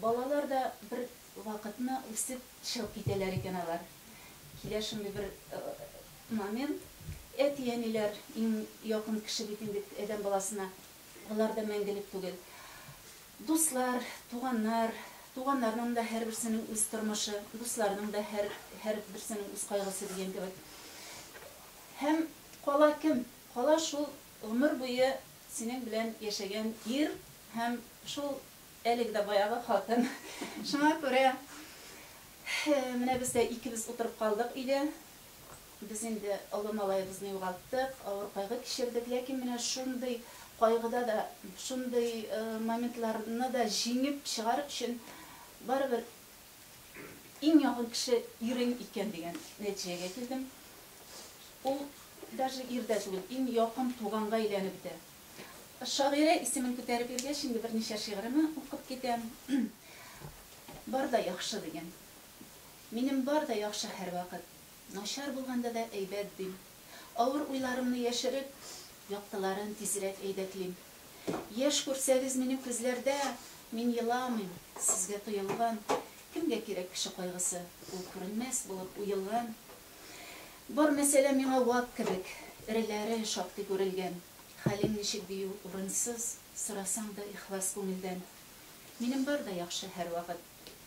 A: Балалар да бер вакытны үсеп чыгып китәләр икән алар. Килә шундый бер момент, әти-әниләр иң якын кеше бит инде адәм баласына, алар да мәңгелек түгел. Дуслар, туганнар, туганнарның да һәрберсенең үз тормышы, дусларның да һәрберсенең үз кайгысы дигән кебек. Һәм Кала кем? Кала шул гомер буе синең белән яшәгән ир һәм шул әлеге дә баягы хатын. Шуңа күрә менә без дә икебез утырып калдык өйдә. Без инде олы малаебызны югалттык, авыр кайгы кичердек, ләкин менә шундый кайгыда да, шундый моментларны да җиңеп чыгар өчен барыбер, Иң якын кеше ирем икән дигән нәтиҗәгә килдем. Ул даже ир дә түгел, иң якын туганга әйләнеп бетә. Шагыйрә исемен күтәреп йөргәч, инде берничә шигыремне укып китәм. Бар да яхшы, дигән. Минем бар да яхшы һәрвакыт. Начар булганда да әйбәт, дим. Авыр уйларымны яшереп, яктыларын тизрәк әйдәклим. Яшь күрсәгез минем күзләрдә, Мин еламыйм, сезгә тоелган. Кемгә кирәк кеше кайгысы, Ул күренмәс булып уелган. Бар мәсьәлә миңа вак кебек, Эреләре шактый күрелгән. Хәлең ничек дию урынсыз, Сорасаң да ихлас күңелдән. Минем бар да яхшы һәрвакыт,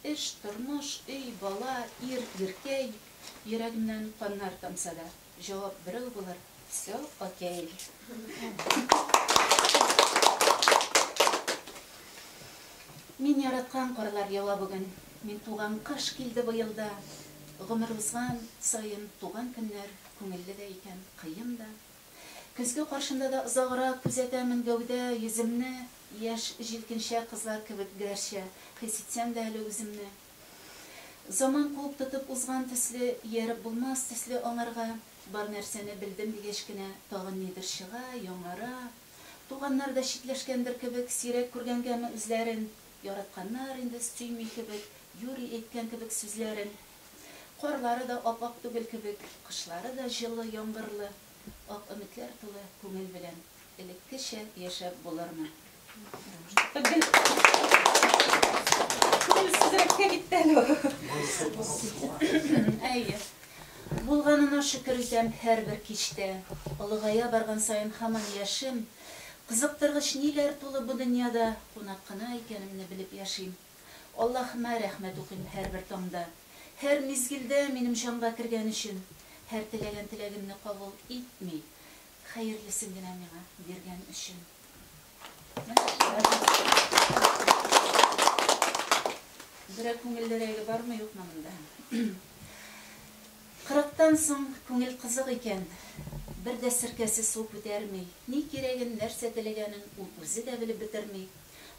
A: Эш, тормыш, өй, бала, ир, иркәй. Йөрәгемнән каннар тамса да. Җавап берәү булыр. Все, окей. Мин яраткан карлар ява бүген. Мин туган кыш килде быел да. Гомер узган саен туган көннәр күңелле дә икән, кыен да. Көзге каршында да озаграк күзәтәмен гәүдә, йөземне, яшь җилкенчәк кызлар кебек гәрчә хис итсәм дә әле үземне. Заман куып тотып узган төсле, ияреп булмас төсле аңарга, бар нәрсәне белдем дигәч кенә, тагын нидер чыга, яңара. Туганнар да читләшкәндер кебек, сирәк күргәнгәме үзләрен, яратканнар инде, сөйми кебек, юри әйткән кебек сүзләрен. Карлары да ап-ак түгел кебек, кышлары да җылы, яңгырлы. Күп ак өметләр тулы күңел белән элеккечә яшәп булырмы? Рәвештә гел күңелсезрәккә китте әле ул. Әйе. Булганына шөкер итәм һәрбер кичтә. Олыгая барган саен һаман яшим. Кызыктыргыч ниләр тулы бу дөньяда, кунак кына икәнемне белеп яшим. Аллаһыма рәхмәт укыйм һәрбер таңда, һәр мизгелдә минем җанга кергән өчен, һәр теләгән теләгемне кабул итми, хәерлесен генә миңа биргән өчен. Берәр күңеллерәге бармы, юкмы монда? Кырыктан соң күңел кызык икән, бер дә серкәсе су күтәрми, ни кирәген, нәрсә теләгәнен ул үзе дә белеп бетерми.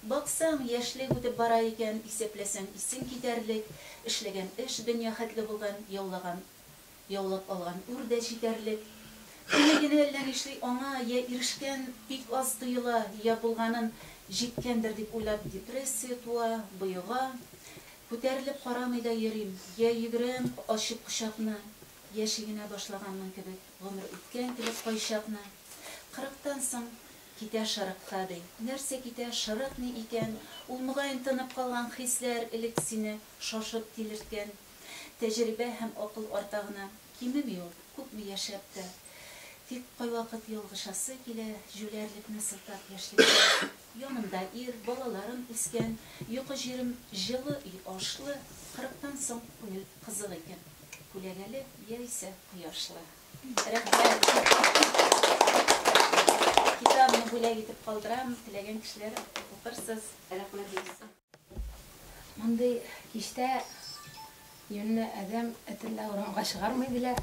A: Баксаң, яшьлек үтеп бара икән, исәпләсәң, исең китәрлек, эшләгән эш дөнья хәтле булган, яулаган, яулап алган үр дә җитәрлек. Күне генә әллә нишли аңа йә ирешкән бик аз тоела, йә булганын җиткәндер дип уйлап депрессия туа, боега. Күтәрелеп карамый да йөрим, йә йөгерәм, ачык кочакны, йә чигенә башлаганның кебек, гомер үткән кебек кайчакны. Кырыктан соң Китә шырыкта, ди. Нәрсә китә, шырык ни икән? Ул, мөгаен, тынып калган хисләр, элек сине шашып тилерткән. Тәҗрибә һәм акыл арта гына. Кимеми ул, күпме яшәп тә. Тик кайвакыт ялгышасы килә, җүләрлекне сылтап яшьлектә. Янымда ир, балаларым үскән, йокы җирем җылы, өй ашлы. Кырыктан соң күңел кызык икән. Күләгәле яисә кояшлы. Рәхмәт. Китабымны бүләк итеп калдырам, теләгән кешеләр укырсыз. Рәхмәт бик зур. Мондый кичтә юньле адәм этен дә урамга чыгармый диләр.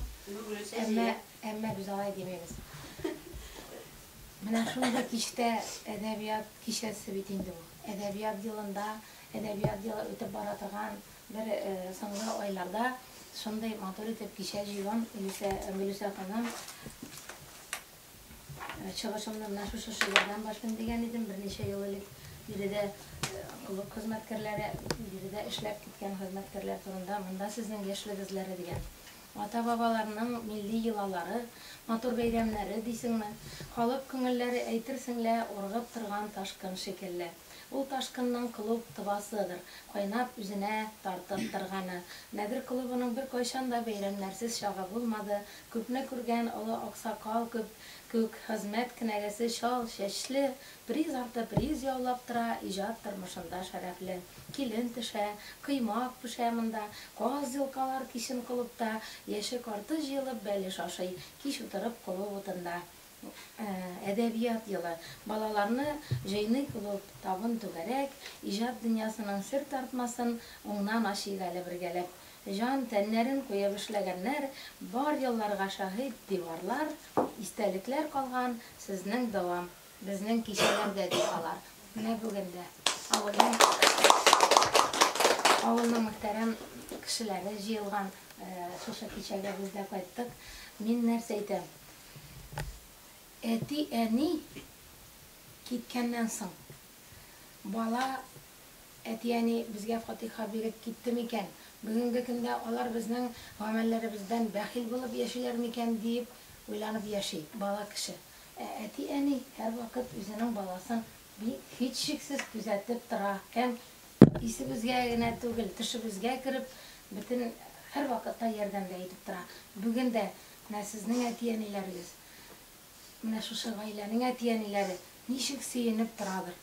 A: Әмма, әмма без алай димибез. Менә шундый кичтә әдәбият кичәсе бит инде бу. Әдәбият елында, әдәбият елы үтеп бара торган Бер соңгы айларда шундый матур итеп кичә җыюым, Илүсә, Гөлүсә ханым, чыгышымны менә шушы шигырьдән башлыйм дигән идем, берничә ел элек биредә клуб хезмәткәрләре, биредә эшләп киткән хезмәткәрләр турында, монда сезнең яшьлек эзләре дигән. Ата-бабаларның милли йолалары, матур бәйрәмнәре дисеңме, халык күңелләре әйтерсең лә ургып торган ташкын шикелле. Ул ташкынның клуб тывасыдыр, кайнап үзенә тартып торганы. Нәдер клубының беркайчан да бәйрәмнәрсез чагы булмады. Күпне күргән олы аксакал күп күк хезмәт кенәгәсе чал чәчле, приз арты приз яулап тора, иҗат тормышында шәрәфле. Килен пешә, коймак пешә монда, каз йолкалар кичен клубта, яше-карты җыелып бәлеш ашый, кич утырып колу утында. Әдәбият елы, балаларны җыйный клуб, табын түгәрәк, иҗат дөньясының сер тартмасын уңнан ачыйк әле бергәләп. Җан, тәннәрен куеп эшләгәннәр, бар елларга шаһит диварлар, истәлекләр калган сезнең дәвам, безнең кичәләрдә, ди алар. Менә бүген дә авылның авылның мөхтәрәм кешеләре җыелган шушы кичәгә без дә кайттык. Мин нәрсә әйтәм, Әти-әни киткәннән соң, бала, әти-әни безгә фатиха биреп китте микән, бүгенге көндә алар безнең гамәлләребездән бәхил булып яшиләр микән, диеп уйланып яши бала кеше. Ә әти-әни һәрвакыт үзенең баласын бик һичшиксез күзәтеп тора һәм исебезгә генә түгел, төшебезгә кереп, бөтен һәрвакытта ярдәмдә итеп тора. Бүген дә. Менә сезнең әти-әниләрегез, менә шушы гаиләнең әти-әниләре ничек сөенеп торадыр.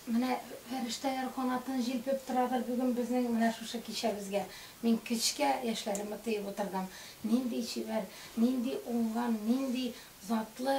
A: Менә фәрештәләр канатын җилпеп торадыр бүген безнең менә шушы кичәбезгә. Мин кечкә яшьләремне тоеп утырдым. Нинди чибәр, нинди уңган, нинди затлы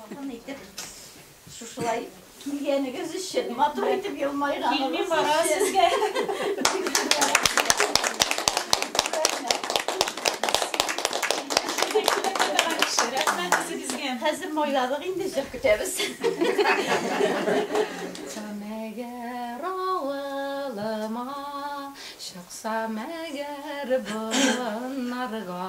A: Якын итеп шушылай килгәнегез өчен, матур итеп елмайганыгыз Хәзер майлабык инде җыр көтәбез. Мәгәр авылыма чыкса мәгәр боннарга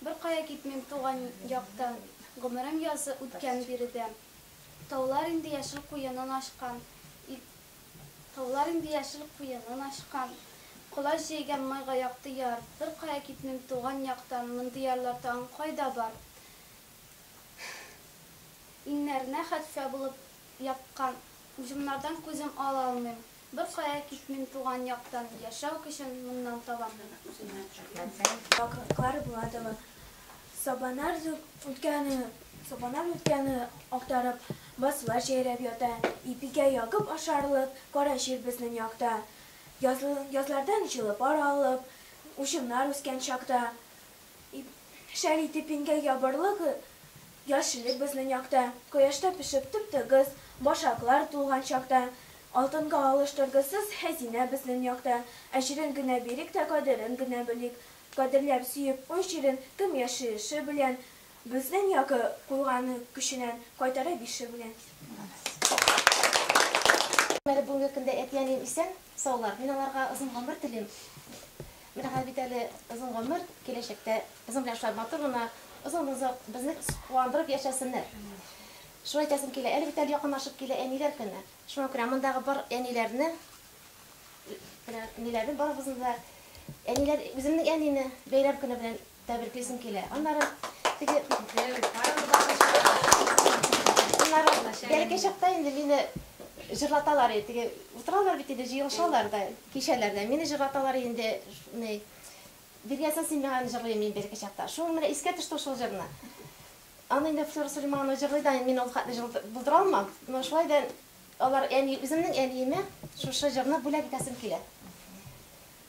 A: Беркая китмим туган яктан, Гомерем язы үткән биредә. Таулар инде яшел куенын ачкан, Таулар инде яшел куенын ачкан, Колач җәйгән майга якты яр. Беркая китмим туган яктан, Мондый ярлар тагын кайда бар? Иңнәренә хәтфә булып яккан, Уҗымнардан күзем ала алмыйм. Беркая китмим туган яктан, Яшәү көчен моннан табам мин үземә. Вакытлар була тагы, сабанар үткәне, Сабанар үткәне актарып, Басулар җәйрәп ята, Ипигә ягып ашарлык, Кара җир безнең якта. Язлардан җылы пар алып, Учымнар үскән чакта, Ип, шәл итеп иңгән ябырлык яшеллек безнең якта, кояшта пешеп тып-тыгыз башаклар тулган чакта, алтынга алыштыргысыз хәзинә безнең якта, әҗерен генә бирик тә кадерен генә белик, кадерләп сөеп уң җирен кем яшише белән, безнең якы куйган көченән кайтара бише белән. Әле бүгенге көндә әти-әнием исән, саулар, мин аларга озын гомер телим. Менә хәзер бит әле озын гомер, киләчәктә безнең белән шулай матур гына, озын-озак безне куандырып яшәсеннәр. Шулай әйтәсем килә. Әле бит әле якынлашып килә Әниләр көне. Шуңа күрә мондагы бар әниләрне, менә ниләрне барыгызны да, әниләр, үземнең әнине бәйрәм көне белән Тәбриклисем килә. Аннары теге Аннары бәләкәй чакта инде мине җырлаталар иде. Теге утыралар бит инде, җыелышалар да кичәләрдә. Мине җырлаталар инде, ни, Биргәзмә син миңа аны җырлыйм мин бәләкәй чакта. Шул менә искә төште шул җырны. Аны инде Флора Сулейманова җырлый да, мин ул хәтле җыр булдыра алмам. Менә шулай да алар әни, үземнең әниемә шушы җырны бүләк итәсем килә.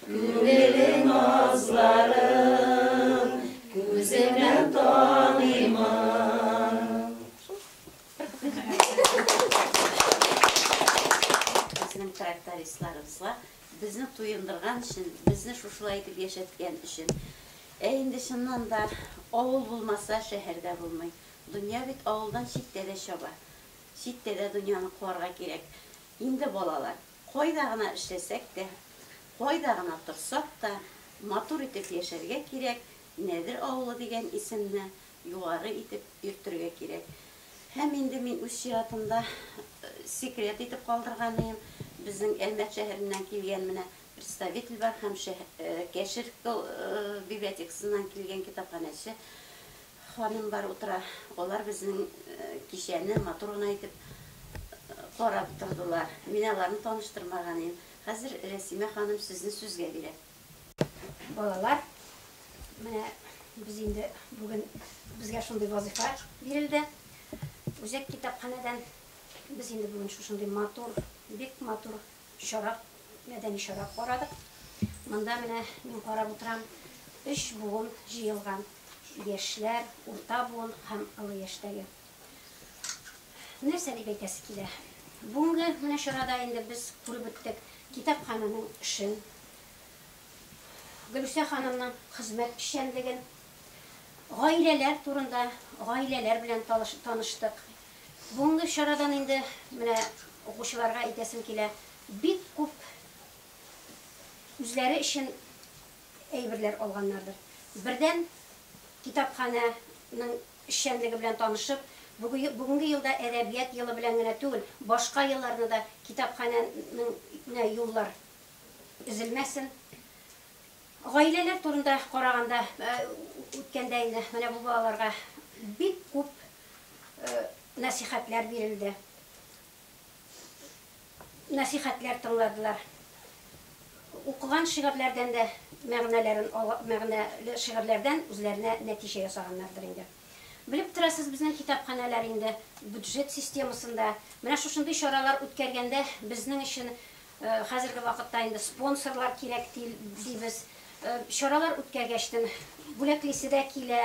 A: Күңеле назларын күзеннән таныймын. Безнең трактористларыбызга безне туендырган өчен, безне шушылай итеп яшәткән өчен. Ә инде чыннан да авыл булмаса, шәһәр дә булмый. Дөнья бит авылдан читтә дә чаба. Читтә дә дөньяны куарга кирәк. Инде балалар. Кайда гына эшләсәк тә, кайда гына торсак та, матур итеп яшәргә кирәк, Нәдер авылы дигән исемне югары итеп йөртергә кирәк. Һәм инде мин үз чиратымда секрет итеп калдырганыем, безнең Әлмәт шәһәреннән килгән менә представитель бар һәм Кәшер библиотекасыннан килгән китапханәче Ханымнар утыра, алар безнең кичәне матур гына итеп карап тордылар. Мин аларны таныштырмаган идем. Хәзер Рәсимә ханым сүзне сүзгә бирә. Балалар, менә без инде бүген безгә шундый вазыйфа бирелде. Үзәк китапханәдән без инде бүген шушындый матур, бик матур. чара, мәдәни чара карадык. Монда менә мин карап утырам, өч буын җыелган, яшьләр, урта буын һәм олы яшьтәге. Нәрсә дип әйтәсе килә? Бүгенге менә чарада инде без күреп үттек китапханәнең эшен, Гөлүсә ханымның хезмәт эшчәнлеген, гаиләләр турында, гаиләләр белән таныштык. Бүгенге чарадан инде менә укучыларга әйтәсем килә, бик күп үзләре өчен әйберләр алганнардыр. Бердән, китапханәнең эшчәнлеге белән танышып, бүгенге елда әдәбият елы белән генә түгел, башка елларны да китапханәнеңә юллар өзелмәсен. Гаиләләр турында караганда, үткәндә инде менә бу балаларга бик күп нәсыйхәтләр бирелде. Нәсыйхәтләр тыңладылар. Укыган шигырьләрдән дә мәгънәләрен, мәгънәле шигырьләрдән үзләренә нәтиҗә ясаганнардыр инде. Белеп торасыз, безнең китапханәләр инде бюджет системасында. Менә шушындый чаралар үткәргәндә безнең өчен хәзерге вакытта инде спонсорлар кирәк дибез. Чаралар үткәргәчтен бүләклисе дә килә,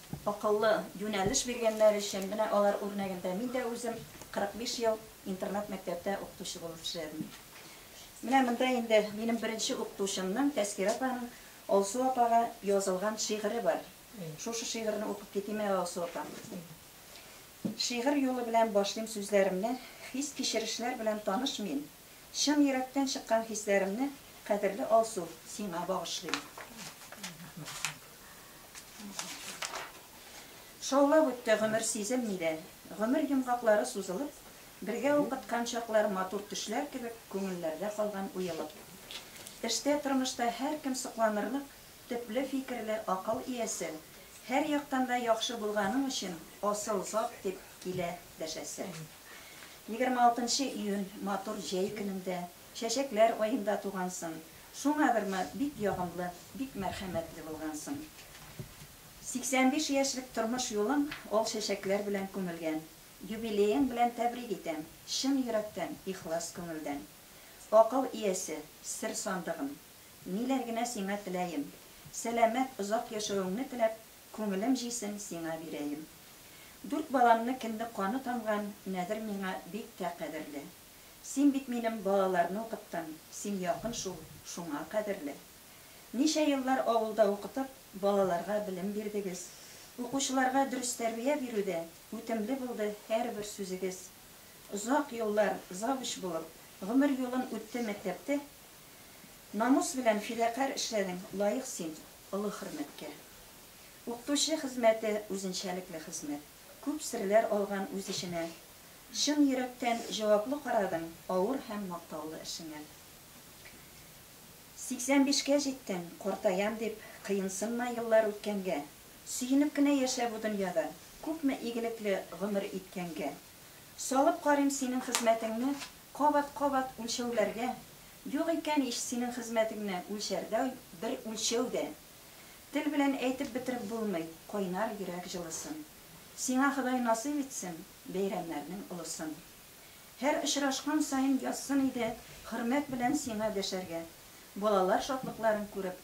A: Акыллы юнәлеш биргәннәр өчен, менә алар үрнәгендә мин дә үзем 45 ел интернат-мәктәптә укытучы булып эшләдем. Менә монда инде минем беренче укытучымның, Тәскирә апаның Алсу апага язылган шигыре бар. Шушы шигырьне укып китим әле, Алсу апа. Шигырь юлы белән башлыйм сүзләремне, Хис-кичерешләр белән таныш мин. Чын йөрәктән чыккан хисләремне, кадерле Алсу, сиңа багышлыйм. Шаулап үтте гомер сизелми дә. Гомер йомгаклары сузылып, бергә укыткан чаклар матур төшләр кебек күңелләрдә калган уелып. Эштә, тормышта һәркем сокланырлык, төпле фикерле, акыл иясе, һәр яктан да яхшы булганың өчен асыл зат дип килә дәшәсе. Егерме алтынчы июнь матур җәй көнендә, чәчәкләр аенда тугансың. Шуңадырмы, бик ягымлы, бик мәрхәмәтле булгансың. Сиксән биш яшьлек тормыш юлың ал чәчәкләр белән күмелгән. Юбилеең белән тәбрик итәм, чын йөрәктән, ихлас күңелдән. Акыл иясе, сер сандыгым. Ниләр генә сиңа теләем. Сәламәт, озак яшәвеңне теләп, Күңелем җисен сиңа бирәем. Дүрт баламны кемне каны тамган Нәдер миңа бик тә кадерле. Син бит минем балаларны укыттың, син якын шул, шуңа кадерле. Ничә еллар авылда укытып, балаларга белем бирдегез. Укучыларга дөрес тәрбия бирүдә үтемле булды һәрбер сүзегез. Озак еллар завуч булып, гомер юлын үтте мәктәптә, Намус белән фидакарь эшләдең, лаек син олы хөрмәткә. Укытучы хезмәте, үзенчәлекле хезмәт. Күп серләр алган үз эченә. Чын йөрәктән җаваплы карадың авыр һәм мактаулы эшеңә. 85 кә җиттең, картаям дип, кыенсынма еллар үткәнгә. Сөенеп кенә яшә бу дөньяда, күпме игелекле гомер иткәнгә. Салып карыйм синең хезмәтеңне Кабат-кабат үлчәүләргә. Юк икән ич синең хезмәтеңне Үлчәрдәй бер үлчәү дә. Тел белән әйтеп бетереп булмый Кайнар йөрәк җылысын. Сиңа Ходай насыйп итсен Бәйрәмнәрнең олысын. Һәр очрашкан саен язсын иде Хөрмәт белән сиңа дәшәргә. Балалар шатлыкларын күреп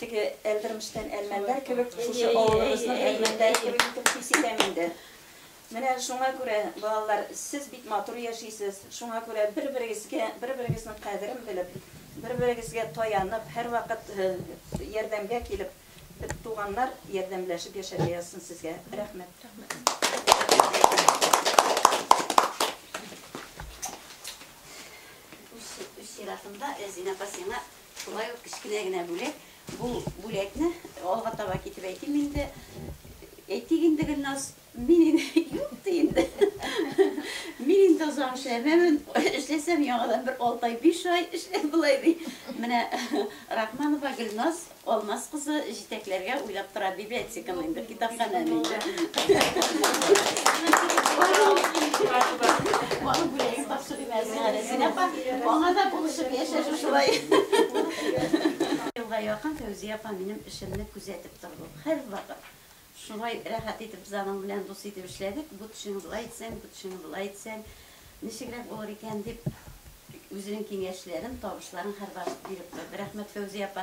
A: Теге Әлдермештән әлмәннәр кебек, шушы авылыбызның әлмәннәре кебек итеп хис итәм инде. Менә шуңа күрә, балалар, сез бик матур яшисез, шуңа күрә бер-берегезгә, бер-берегезнең кадерен белеп, бер-берегезгә таянып, һәрвакыт ярдәмгә килеп, туганнар ярдәмләшеп яшәргә язсын сезгә. Рәхмәт. Үз чиратымда, Зинә апа, сиңа Шулай ук кечкенә генә бүләк. Бу бүләкне алга таба китеп әйтим инде. Әйтик инде, Гөлназ, мин инде юк ди инде. Мин инде озак эшләмәмен, эшләсәм яңадан бер алты ай, биш ай эшләп болай ди. Менә Рахманова Гөлназ Алмаз кызы җитәкләргә уйлап тора библиотеканы инде. Китапханә ни? Баны бүләгез тапшырыйм Әсиһә Рәсилә апа. Аңа да булышып яшәшү шулай. Елга якын Фәүзия апа минем эшемне күзәтеп торды. Һәрвакыт шулай рәхәт итеп без аның белән дус итеп эшләдек. Бу төшеңне болай итсәң, бу төшеңне болай итсәң, ничегрәк булыр икән дип, үзенең киңәшләрен, табышларын һәрвакыт биреп торды. Рәхмәт, Фәүзия апа.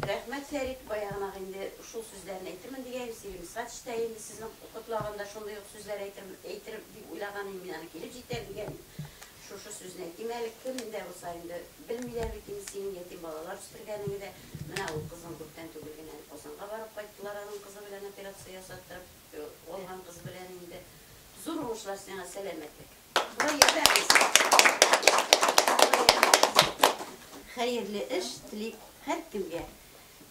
A: Рәхмәт Фәрит, баягынак инде шул сүзләрен әйтермен дигәем, Сиремсач та инде сезнең котлаганда шундый ук сүзләр әйтер әйтер дип уйлаган идем, мин аны килеп җитәр дигән идем. Шушы сүзне әйтим әле, кем дә булса инде белмиләр бит инде синең ятим балалар үстергәнеңе дә, менә ул кызың күптән түгел генә әле Казанга барып кайттылар аның кызы белән операция ясаттырып алган кыз белән инде. Зур уңышлар сиңа, сәламәтлек. Хәерле эш телим һәркемгә.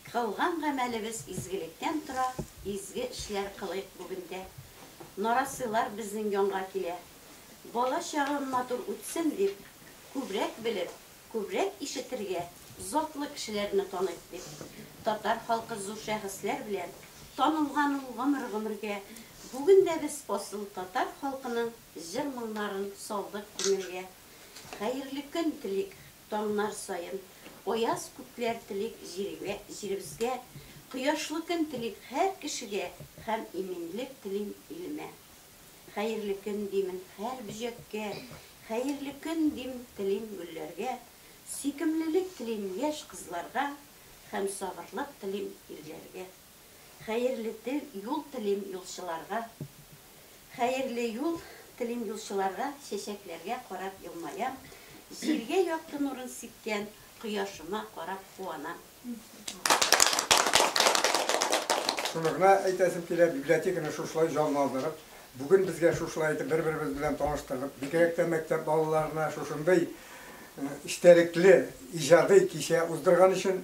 A: Кылган гамәлебез изгелектән тора, изге эшләр кылыйк бүген дә. Нарасыйлар безнең янга килә. Бала чагым матур үтсен дип, күбрәк белеп, Күбрәк ишетергә, затлы кешеләрне таныйк дип. Татар халкы зур шәхесләр белән танылган ул гомер-гомергә. Бүген дә без асыл татар халкының җыр-моңнарын салдык күңелгә. Хәерле көн телик таңнар саен, аяз күкләр телик җиргә, җиребезгә. Кояшлы көн телик һәр кешегә һәм иминлек телим илемә. Хәерле көн димен һәр бөҗәккә, Хәерле көн дим, телим гөлләргә, Сөйкемлелек телим яшь кызларга, Һәм сабырлык телим ирләргә. Хәерле тел, юл телим юлчыларга, Хәерле юл телим юлчыларга, Чәчәкләргә карап елмаям, Җиргә якты нурын сипкән Кояшыма карап куанам. Шуны гына әйтәсем килә, библиотеканы шушылай җанландырып, бүген безгә шушылай итеп бер-беребез белән таныштырып, бигрәк тә мәктәп балаларына шушындый эчтәлекле иҗади кичә уздырган өчен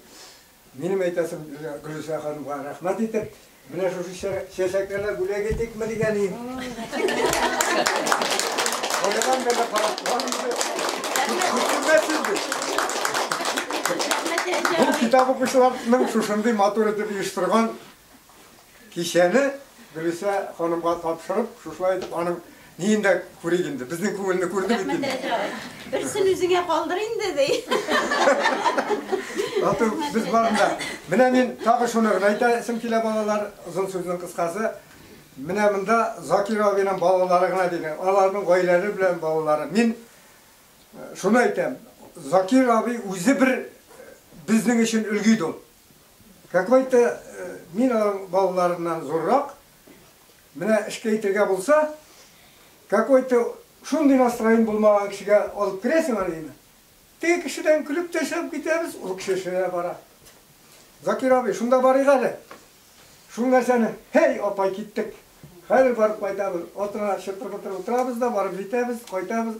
A: минем әйтәсем Гөлүсә ханымга рәхмәт итеп, Менә шушы чәчәкләрне бүләк итикме дигән идем. Каядан гына карап торган Бу китап укучыларның шушындый матур итеп оештырган кичәне Гөлүсә ханымга тапшырып, шушылай итеп аның Ниен дә күрик инде, безнең күңелне күрде бит инде. Берсен үзеңә калдыр инде, ди. Ату, без барында. Менә мин тагы шуны гына әйтәсем килә, балалар, озын сүзнең кыскасы. Менә монда Закир абыйның балалары гына дигән, аларның гаиләләре белән балалары. Мин шуны әйтәм, Закир абый үзе бер безнең өчен өлге иде ул. Какой-то мин аның балаларыннан зуррак, Менә эшкә итергә булса, какой-то шундый настроен булмаган кешегә алып керәсең аны өеңә. Теге кешедән көлеп тә чыгып китәбез, ул кеше эшенә дә бара. Закир абый, шунда барыйк әле. Шул нәрсәне, һәй, апай, киттек. Хәзер барып кайтабыз. Атына чытыр-мытыр утырабыз да, барып җитәбез, кайтабыз.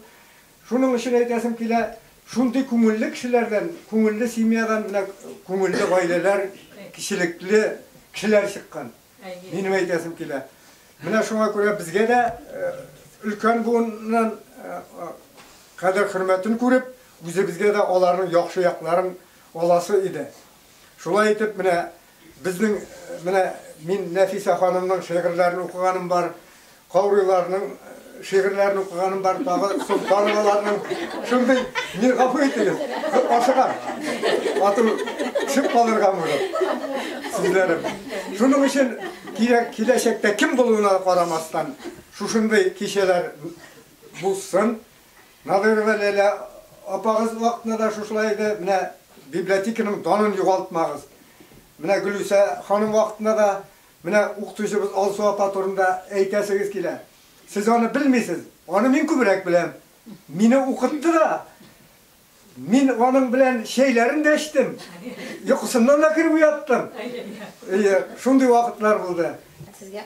A: Шуның өчен әйтәсем килә, шундый күңелле кешеләрдән, күңелле семьядан менә күңелле гаиләләр, кичелекле кешеләр чыккан. Минем әйтәсем килә. Менә шуңа күрә безгә дә өлкән буыннан кадер-хөрмәтен күреп, үзебезгә дә аларның яхшы якларын аласы иде. Шулай итеп, менә безнең менә мин Нәфисә ханымның шигырьләрен укыганым бар. Каурыйларның шигырьләрен укыганым бар, тагы Солтановаларның шундый, мин гафу итегез, ашыгам. Ату төшеп калырга булып. Сүзләрем. Шуның өчен кирәк киләчәктә кем булуына карамастан, шушындый кичәләр булсын. Надырова Ләйлә апагыз вакытында да шушылай иде, менә библиотеканың данын югалтмагыз. Менә Гөлүсә ханым вакытында да Менә укытучыбыз Алсу апа турында әйтәсегез килә. Сез аны белмисез, аны мин күбрәк беләм. Мине укытты да. Мин аның белән чәйләрен дә эчтем. Йокысыннан да кереп уяттым. Әйе, шундый вакытлар булды. Сезгә.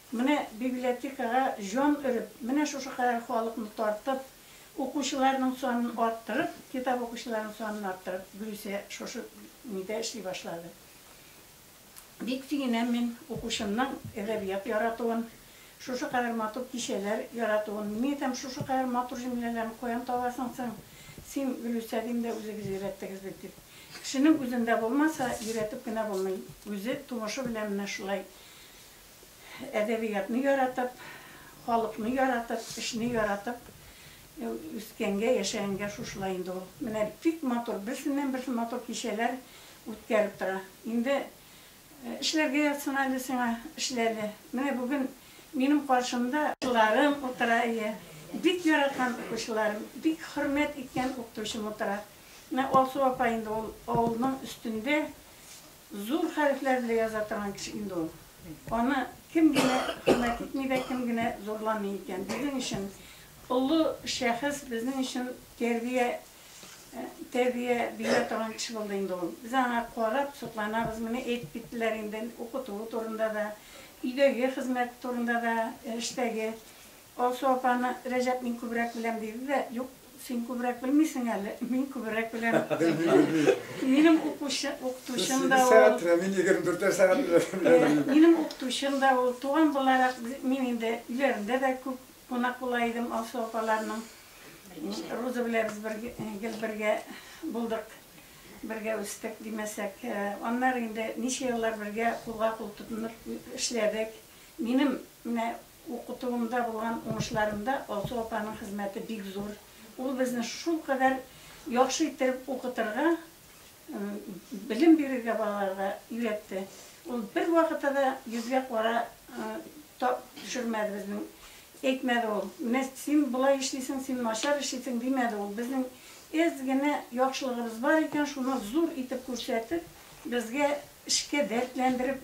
A: Менә библиотекага җан өреп, менә шушы кадәр халыкны тартып, укучыларның санын арттырып, китап укучыларның санын арттырып, Гөлүсә шушы нидә эшли башлады. Бик сөенәм мин укучымның әдәбият яратуын, шушы кадәр матур кичәләр яратуын. Мин әйтәм, шушы кадәр матур җөмләләрне каян табасың соң син, Гөлүсә, дим дә, үзегез өйрәттегез бит, дип. Кешенең үзендә булмаса, өйрәтеп кенә булмый, үзе тумышы белән менә шулай әдәбиятны яратып, халыкны яратып, эшне яратып үскәнгә, яшәгәнгә шушылай инде ул. Менә бик матур, берсеннән-берсе матур кичәләр үткәреп тора. Инде эшләргә ятсын әле сиңа, эшлә әле. Менә бүген минем каршымда укучыларым утыра, әйе, бик яраткан укучыларым, бик хөрмәт иткән укытучым утыра. Менә Алсу апа инде ул авылның өстендә. Зур хәрефләр белән яза торган кеше инде ул. Аны кем генә хөрмәт итми дә, кем генә зурламый икән. Безнең өчен олы шәхес, безнең өчен тәрбия, тәрбия бирә торган кеше булды инде ул. Без аңа карап сокланабыз. Менә әйтеп киттеләр инде укытуы турында да, өйдәге хезмәт турында да, эштәге. Алсу апаны Рәҗәп мин күбрәк беләм диде дә, Юк, син күбрәк белмисең әле, мин күбрәк беләм. Минем укытучым да ул. Сигез сәгать беләм, мин егерме дүртәр сәгать беләм. Минем укытучым да ул. Туган буларак, мин инде өйләрендә дә күп кунак була идем Алсу апаларның. Руза белән без бер гел бергә булдык, бергә үстек, димәсәк. Аннары инде ничә еллар бергә кулга-кул тотынып эшләдек. Минем менә Укытуымда булган уңышларымда Алсу апаның хезмәте бик зур. Ул безне шулкадәр яхшы иттереп укытырга, белем бирергә балаларга өйрәтте. Ул бервакытта да йөзгә кара төшермәде безнең. Әйтмәде ул, менә син болай эшлисең, син начар эшлисең, димәде ул. Безнең әз генә яхшылыгыбыз бар икән, шуны зур итеп күрсәтеп, безгә эшкә дәртләндереп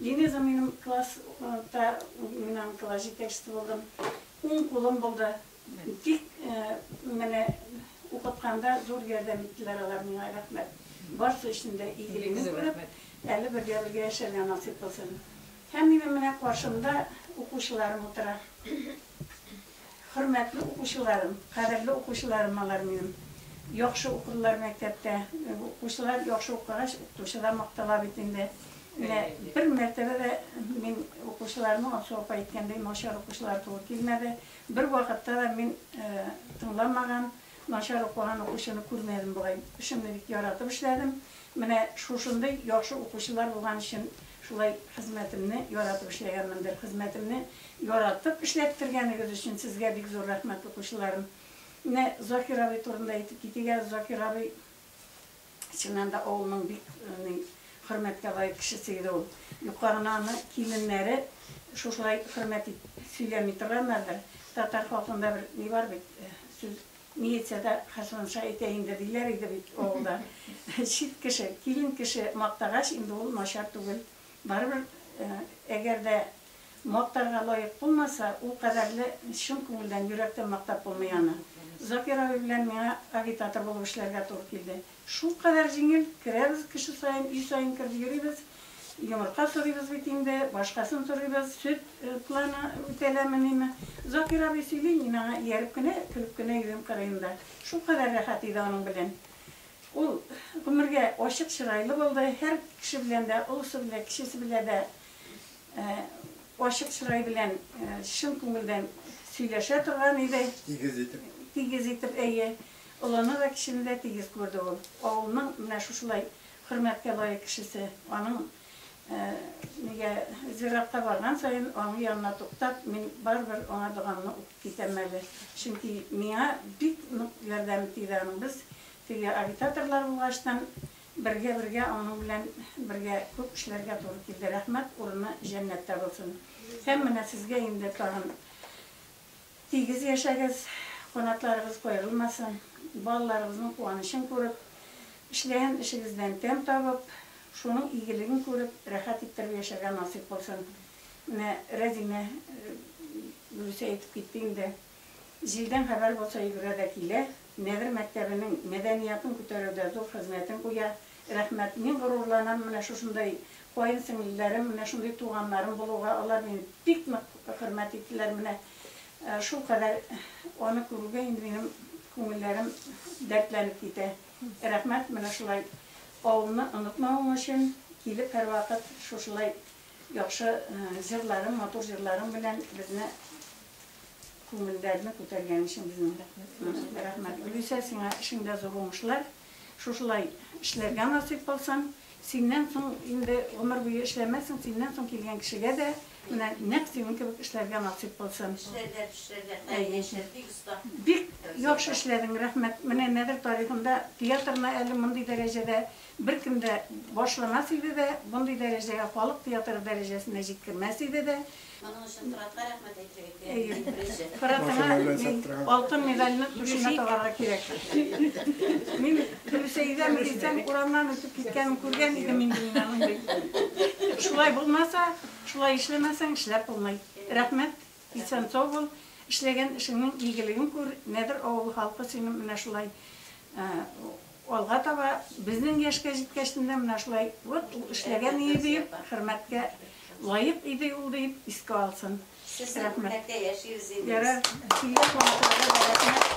A: Линиза минем класс та мин аның класс җитәкчесе булдым. Уң кулым булды. Тик менә укытканда зур ярдәм иттеләр алар миңа, рәхмәт. Барсы өчен дә игелегне күреп, әле бергә-бергә яшәргә насыйп булсын. Һәм минем менә каршымда укучыларым утыра. Хөрмәтле укучыларым, кадерле укучыларым алар минем. Яхшы укыдылар мәктәптә. Укучылар яхшы укыгач, укытучы да мактала бит инде. Менә бер мәртәбә дә мин укучыларның Аксу апа әйткәндәй начар укучылар туры килмәде. Бервакытта да мин тыңламаган. Начар укыган укучыны күрмәдем бугай. Эшемне бик яратып эшләдем. Менә шушындый яхшы укучылар булган өчен шулай хезмәтемне яратып эшләгәнмендер. Хезмәтемне яратып эшләттергәнегез өчен сезгә бик зур рәхмәт, укучыларым. Менә Закир абый турында әйтеп китик әле. Закир абый Чыннан да, авылның бик хөрмәткә лаек кешесе иде ул. Юкка гына аны киленнәре шушылай хөрмәт итеп сөйләми торганнардыр. Татар халкында бер ни бар бит, сүз, Милициядә Хәсәнша әйтә инде, диләр иде бит авылда. Чит кеше, килен кеше мактагач, инде ул начар түгел. Барыбер, әгәр дә Мактарга лаек булмаса, ул кадәрле чын күңелдән, йөрәктән мактап булмый аны. Закир абый белән миңа агитатор булып эшләргә туры килде. Шулкадәр җиңел, керәбез кеше саен, өй саен кереп йөрибез. Йомырка сорыйбыз бит инде, башкасын сорыйбыз, сөт планы үтәләмениме. Закир абый сөйли, мин аңа ияреп кенә, көлеп кенә йөрим кырыенда. Шулкадәр рәхәт иде аның белән. Ул гомергә ачык чырайлы булды, һәр кеше белән дә, олысы белән, кечесе белән дә Ачык чырай белән чын күңелдән сөйләшә торган иде. Тигез итеп. Тигез итеп, әйе. Олыны да, кечене дә тигез күрде ул. Авылның менә шушылай хөрмәткә лаек кешесе. Аның нигә зиратка барган саен, аның янына туктап, мин барыбер аңа догамны укып китәм әле. Чөнки миңа бик нык ярдәме тиде аның. Без теге агитаторлар булгачтын, Бергә-бергә аның белән бергә күп эшләргә туры килде. Рәхмәт, урыны җәннәттә булсын. Һәм менә сезгә инде тагын тигез яшәгез, канатларыгыз каерылмасын, балаларыгызның куанычын күреп, эшләгән эшегездән тәм табып, шуның игелеген күреп, рәхәт иттереп яшәргә насыйп булсын. Менә Рәзимә дөрес әйтеп китте инде. Җилдән хәбәр булса йөгерә дә килә. Нәгыр мәктәбенең мәдәниятын күтәрүдә зур хезмәтен куя. Рәхмәт. Мин горурланам менә шушындай каенсеңлеләрем, менә шундый туганнарым булуга. Алар мине бик нык хөрмәт иттеләр. Менә шулкадәр аны күрүгә инде минем күңелләрем дәртләнеп китә. Рәхмәт менә шулай авылны онытмавың өчен, килеп һәрвакыт шушылай яхшы җырларың, матур җырларың белән безне күңелләрне күтәргән өчен безнең рәхмәт. Рәхмәт. Гөлүсә, сиңа эшеңдә зур уңышлар. Шушылай эшләргә насыйп булсын. Синнән соң инде гомер буе эшләмәссең, синнән соң килгән кешегә дә менә нәкъ синең кебек эшләргә насыйп булсын. Эшләргә, төшләргә, хәер, яшәр, бик оста. Бик яхшы эшләдең, рәхмәт. Менә Нәдер тарихында театрны әле мондый дәрәҗәдә беркем дә башламас иде дә, мондый дәрәҗәгә, халык театры дәрәҗәсенә җиткермәс иде дә. Моның өчен Форатка рәхмәт әйтергә кирәк, беренче. Форатыңа мин алтын медальне түшенә тагарга кирәк. Мин дөрес әйтәме дисәң, урамнан үтеп киткәнен күргән идем инде мин аның бит. Шулай булмаса, шулай эшләмәсәң, эшләп булмый. Рәхмәт, исән-сау бул, эшләгән эшеңнең игелеген күр, Нәдер авылы халкы сине менә шулай Алга таба безнең яшькә җиткәчне дә менә шулай, вот ул эшләгән иде диеп, хөрмәткә лаек иде ул диеп искә алсын. Рәхмәт. Ярар, килгән кунакларга да рәхмәт.